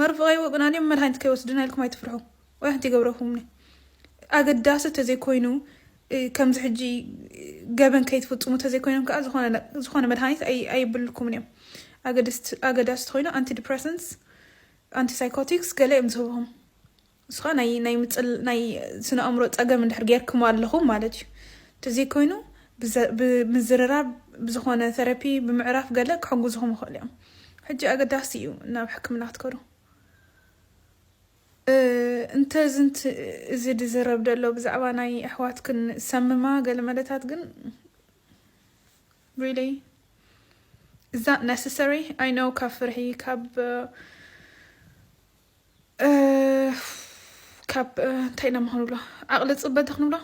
መርፍቐይ ወግእን ኣንዮም መድሃኒት ከይወስድና ኢልኩም ኣይትፍርሑ ወይ ሓንቲ ይገብረኩምኒ ኣገዳሲ ተዘይ ኮይኑ ከምዚ ሕጂ ገበን ከይትፍጽሙ ተዘይ ኮይኖም ከኣ ዝኾነ መድሃኒት ኣይብልኩምን እዮም ኣገዳሲ ተኮይኑ ኣንቲ ዲፕረሰንስ ኣንቲ ሳይኮቲክስ ገለ እዮም ዝህብኹም ንስኻ ናይ ናይ ምጽል ናይ ስነ ኣእምሮ ጸገም እንድሕር ጌርክሞ ኣለኹም ማለት እዩ እንተዘይኮይኑ ብዘ- ብምዝርራብ ብዝኾነ ቴራፒ ብምዕራፍ ገለ ክሕግዙኹም ይኽእሉ እዮም ሕጂ ኣገዳሲ እዩ ናብ ሕክምና ክትከዱ እ፣ እንተ ዝንት እዚ ዝዝረብ ደሎ ብዛዕባ ናይ ኣሕዋትክን ሰምማ ገለ መለታት ግን really is that necessary I know ካብ ፍርሒ ካብ ካብ እንታይ ኢና ምኾንብሎ ዓቕሊ ፅበተ ክንብሎ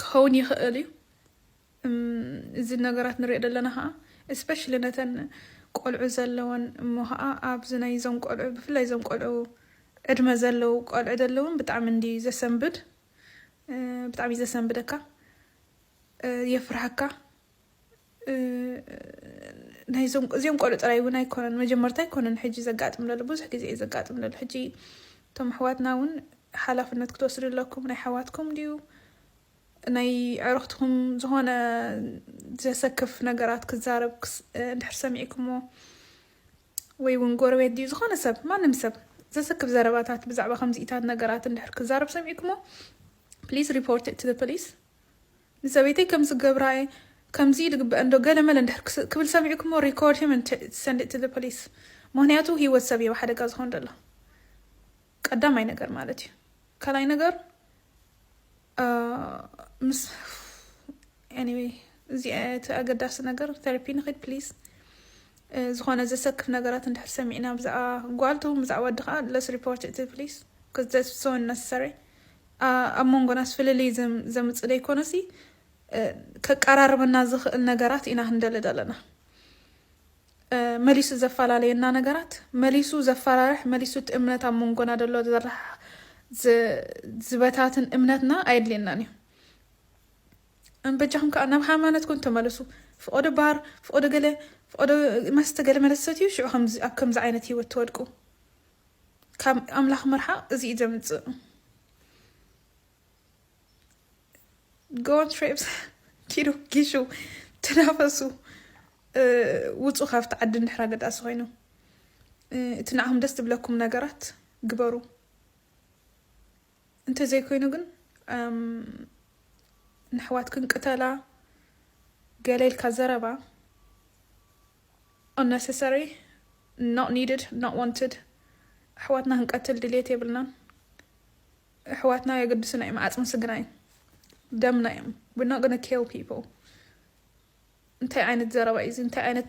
ክኸውን ይኽእል እዩ እዚ ነገራት ንሪኦ ዘለና ከዓ እስፔሻሊ ነተን ቆልዑ ዘለወን እሞ ከዓ ኣብዚ ናይ ዞም ቆልዑ ብፍላይ ዞም ቆልዑ ዕድመ ዘለው ቆልዑ ዘለውን ብጣዕሚ እንዲ ዘሰንብድ ብጣዕሚ ዘሰንብደካ የፍርሃካ ናይዞም እዚኦም ቆልዑ ጥራይ እውን ኣይኮነን መጀመርታ ኣይኮነን ሕጂ ዘጋጥም ዘሎ ብዙሕ ግዜ እዩ ዘጋጥም ዘሎ ሕጂ እቶም ኣሕዋትና እውን ሓላፍነት ክትወስዱ ኣለኩም ናይ ሓዋትኩም ድዩ ናይ ዕረኽትኩም ዝኾነ ዘሰክፍ ነገራት ክዛረብ እንድሕር ሰሚዕኩሞ ወይ እውን ጎረቤት ድዩ ዝኾነ ሰብ ማንም ሰብ ዘሰክፍ ዘረባታት ብዛዕባ ከምዚኢታት ነገራት እንድሕር ክዛረብ ሰሚዕኩሞ ፕሊዝ ሪፖርት ት ፖሊስ ንሰበይተይ ከምዚ ክገብራ እየ ከምዚ እዩ ዝግበኣን ዶ ገለ መለ እንድሕር ክብል ሰሚዕኩሞ record him and send it to the police ምክንያቱ ሂወት ሰብ እዩ ኣብ ሓደጋ ዝኮን ዘሎ ቀዳማይ ነገር ማለት እዩ ካልኣይ ነገር ምስ anyway እዚ እቲ ኣገዳሲ ነገር ቴራፒ ንክድ please ዝኾነ ዘሰክፍ ነገራት እንድሕር ሰሚዕና ብዛዕባ ጓልቱ ብዛዕባ ወዲ ከዓ let's report it to the police because that's so unnecessary ኣብ መንጎናስ ፍልልይ ዘምጽእ ደይኮነሲ ከቃራርበና ዝኽእል ነገራት ኢና ክንደሊ ዘለና። መሊሱ ዘፈላለየና ነገራት መሊሱ ዘፈራርሕ መሊሱ እቲ እምነት ኣብ መንጎና ደሎ ዘራሕራሕ ዝበታትን እምነትና ኣየድልየናን እዩ። በጃኹም ከዓ ናብ ሃይማኖትኩም ተመለሱ። ፍቆዶ ባር ፍቆዶ ገለ ፍቆዶ መስተ ገለ መለሰት እዩ ሽዑ ኣብ ከምዚ ዓይነት ህይወት ትወድቁ። ካብ ኣምላኽ ምርሓቕ እዚ እዩ ዘምጽእ ጎን ትሬፕስ ኪዱ ጊሹ ትናፈሱ ውፁ ካብቲ ዓዲ እንድሕር ኣገዳሲ ኮይኑ እቲ ንዓኹም ደስ ዝብለኩም ነገራት ግበሩ እንተዘይኮይኑ ግን ንሕዋትክን ቅተላ ገለ ኢልካ ዘረባ Unnecessary Not needed Not wanted ኣሕዋትና ክንቀትል ድልየት የብልናን ኣሕዋትና ኣየገድሱና እዮም ዓጽሚ ስግና እዮም ደምና እዮም We're not gonna kill people እንታይ ዓይነት ዘረባ እዩ እዚ እንታይ ዓይነት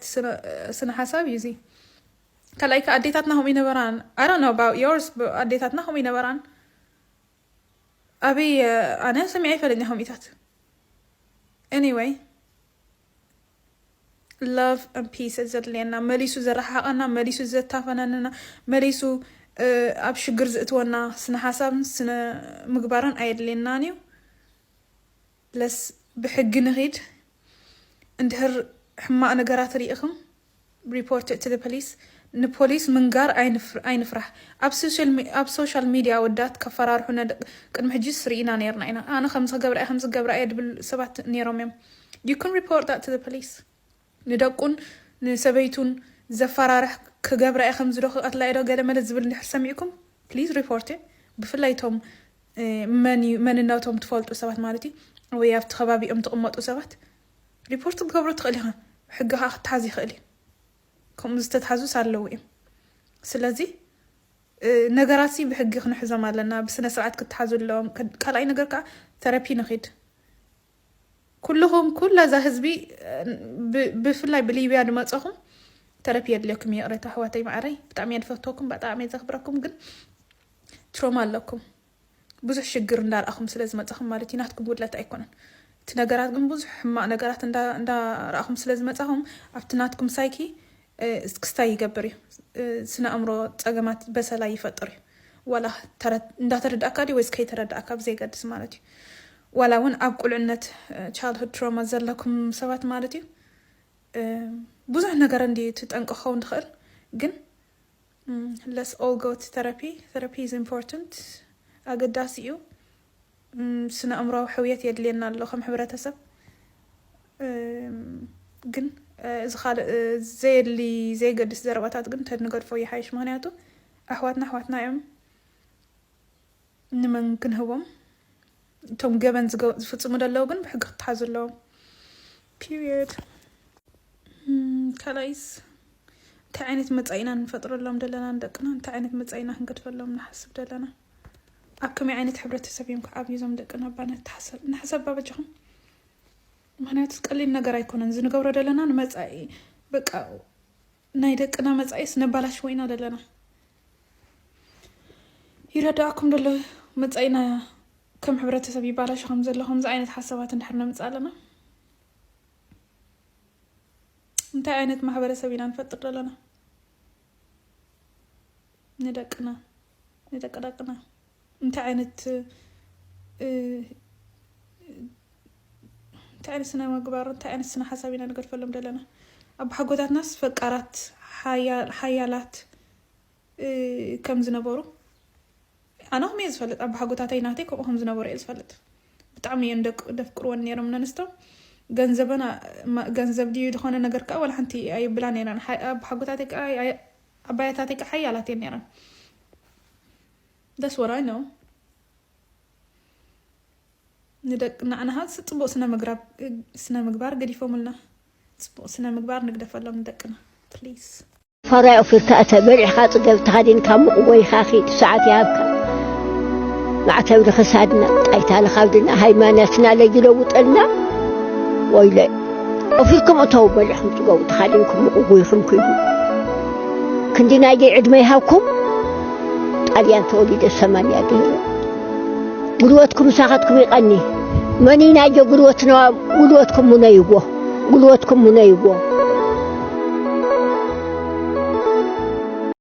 ስነ ሓሳብ እዩ እዚ ካልኣይ ከ ኣዴታትና ከምኡ ይነበራን ኣይ ዶንት ኖ ኣባውት ዮርስ ኣዴታትና ከምኡ ይነበራን ኣበይ ኣነ ሰሚዐ ይፈለኛ ከምኡታት ኤኒወይ Love and peace እዩ ዘድልየና መሊሱ ዘረሓሓቐና መሊሱ ዘታፈናንና መሊሱ ኣብ ሽግር ዝእትወና ስነ ሓሳብን ስነ ምግባርን ኣየድልየናን እዩ ለስ ብሕጊ ንኺድ እንድሕር ሕማቕ ነገራት ርኢኹም Report it to the police ንፖሊስ ምንጋር ኣይንፍራህ ኣብ ሶሻል ሚድያ ኣወዳት ከፈራርሑና ቅድሚ ሕጂስ ሪኢና ኔርና ኢና ኣነ ከምዚ ክገብራ እየ ከምዚ ክገብራ እየ ድብል ሰባት ኔሮም እዮም you can report that to the police ንደቁን ንሰበይቱን ዘፈራርሕ ክገብራ እየ ከምዚ ዶ ክቀትላ እየ ዶ ገለ መለ ዝብል እንድሕር ሰሚዕኩም please report it ብፍላይ እቶም መን እዩ መንነቶም ትፈልጡ ሰባት ማለት እዩ ወይ ኣብቲ ከባቢኦም ትቕመጡ ሰባት ሪፖርት ክትገብሮ ትኽእል ኢኻ ብሕጊ ከኣ ክትሓዝ ይኽእል እዩ ከምኡ ዝተትሓዙስ ኣለዉ እዮም ስለዚ ነገራት ሲ ብሕጊ ክንሕዞም ኣለና ብስነ ስርዓት ክትሓዙ ኣለዎም ካልኣይ ነገር ከዓ ተረፒ ንኺድ ኩልኹም ኩላ እዛ ህዝቢ ብፍላይ ብሊብያ ድመፀኹም ተረፒ የድልየኩም ይቕረታ ኣሕዋተይ ማዕረይ ብጣዕሚ እየ ድፈትወኩም ብጣዕሚ እየ ዘኽብረኩም ግን ትሮማ ኣለኩም ብዙሕ ሽግር እንዳ ረኣኹም ስለ ዝመጻኹም ማለት እዩ ናትኩም ጉድለት ኣይኮነን እቲ ነገራት ግን ብዙሕ ሕማቅ ነገራት እንዳ ረኣኹም ስለ ዝመጻኹም ኣብቲ ናትኩም ሳይኪ ክስታይ ይገብር እዩ ስነ ኣእምሮ ጸገማት በሰላ ይፈጥር እዩ ዋላ እንዳተረዳእካ ድዩ ወይስ ከይተረዳእካ ብዘይገድስ ማለት እዩ ዋላ እውን ኣብ ቁልዕነት ቻይልድሁድ ትሮማ ዘለኩም ሰባት ማለት እዩ ብዙሕ ነገር እንዲ ትጠንቀ ክኸውን ትኽእል ግን ለስ ኦል ጎ ቱ ተረፒ ተረፒ ኢዝ ኢምፖርተንት ኣገዳሲ እዩ ስነኣእምሮዊ ሕውየት የድልየና ኣሎ ከም ሕብረተሰብ ግን እዚ ካልእ ዘየድሊ ዘየገድስ ዘረባታት ግን ተንገድፎ ይሓይሽ ምክንያቱ ኣሕዋትና ኣሕዋትና እዮም ንመን ክንህቦም እቶም ገበን ዝፍፅሙ ደለዉ ግን ብሕጊ ክተሓዙ ኣለዎም ፒርየድ። ካልኣይስ እንታይ ዓይነት መፃኢ ኢና ንፈጥረሎም ደለና ንደቅና? እንታይ ዓይነት መፃኢ ኢና ክንገድፈሎም ንሓስብ ደለና? ኣብ ከመይ ዓይነት ሕብረተሰብ እዮም ክዓብዩ እዞም ደቅና እባ ንተሓሰብ ንሕሰብ እባ በጃኹም። ምክንያቱ ቀሊል ነገር ኣይኮነን እዚ ንገብሮ ደለና ንመፃኢ በቃ ናይ ደቅና መጻኢስ ነባላሽዎ ኢና ደለና ይረዳኣኩም ደሎ መጻኢና ከም ሕብረተሰብ ይባላሽ ከም ዘሎ ከምዚ ዓይነት ሓሳባት እንድሕር ነምጽእ ኣለና እንታይ ዓይነት ማሕበረሰብ ኢና ንፈጥር ደለና ንደቅና ንደቅደቅና እንታይ ዓይነት እንታይ ዓይነት ስነ ምግባር እንታይ ዓይነት ስነ ሓሳብ ኢና ንገድፈሎም ዘለና ኣቦሓጎታትናስ ፈቃራት ሓያላት ከም ዝነበሩ ኣነ ከምኡ እየ ዝፈልጥ ኣቦሓጎታተይ ናተይ ከምኡ ከም ዝነበሩ እየ ዝፈልጥ ብጣዕሚ እየን ደፍቅርወን ነይሮም ነንስቶም ገንዘበን ገንዘብ ድዩ ዝኾነ ነገር ከዓ ዋላ ሓንቲ ኣይብላ ነይረን ኣቦሓጎታተይ ከዓ ዓባያታተይ ከ ሓያላት እየን ነይረን that's what I know ንደቂ ናዕናሃ ፅቡቅ ስነ ምግባር ገዲፎምልና ፅቡቅ ስነ ምግባር ንግደፈሎም ንደቅና ፕሊዝ ፈራይ ኦፊርካ እተ በሊዕካ ፅገብ ተኸዲንካ ምቕጎይካ ኺድ ሰዓት ይሃብካ ማዕተብ ንክሳድና ጣይታ ንኻብድና ሃይማኖትና ለይለውጠልና ወይለ ቆፊርኩም እተው በሊዕኩም ጽገቡ ተኻዲንኩም ምቕጉይኹም ኩይኑ ክንዲ ናይዘይ ዕድመ ይሃብኩም ጣልያን ተወሊደ ሰማንያ ገይረ ጉልበትኩም ሳኻትኩም ይቐኒ መኒ ናይዘ ጉልበትና ጉልበትኩም ሙነይዎ ጉልበትኩም ሙነይዎ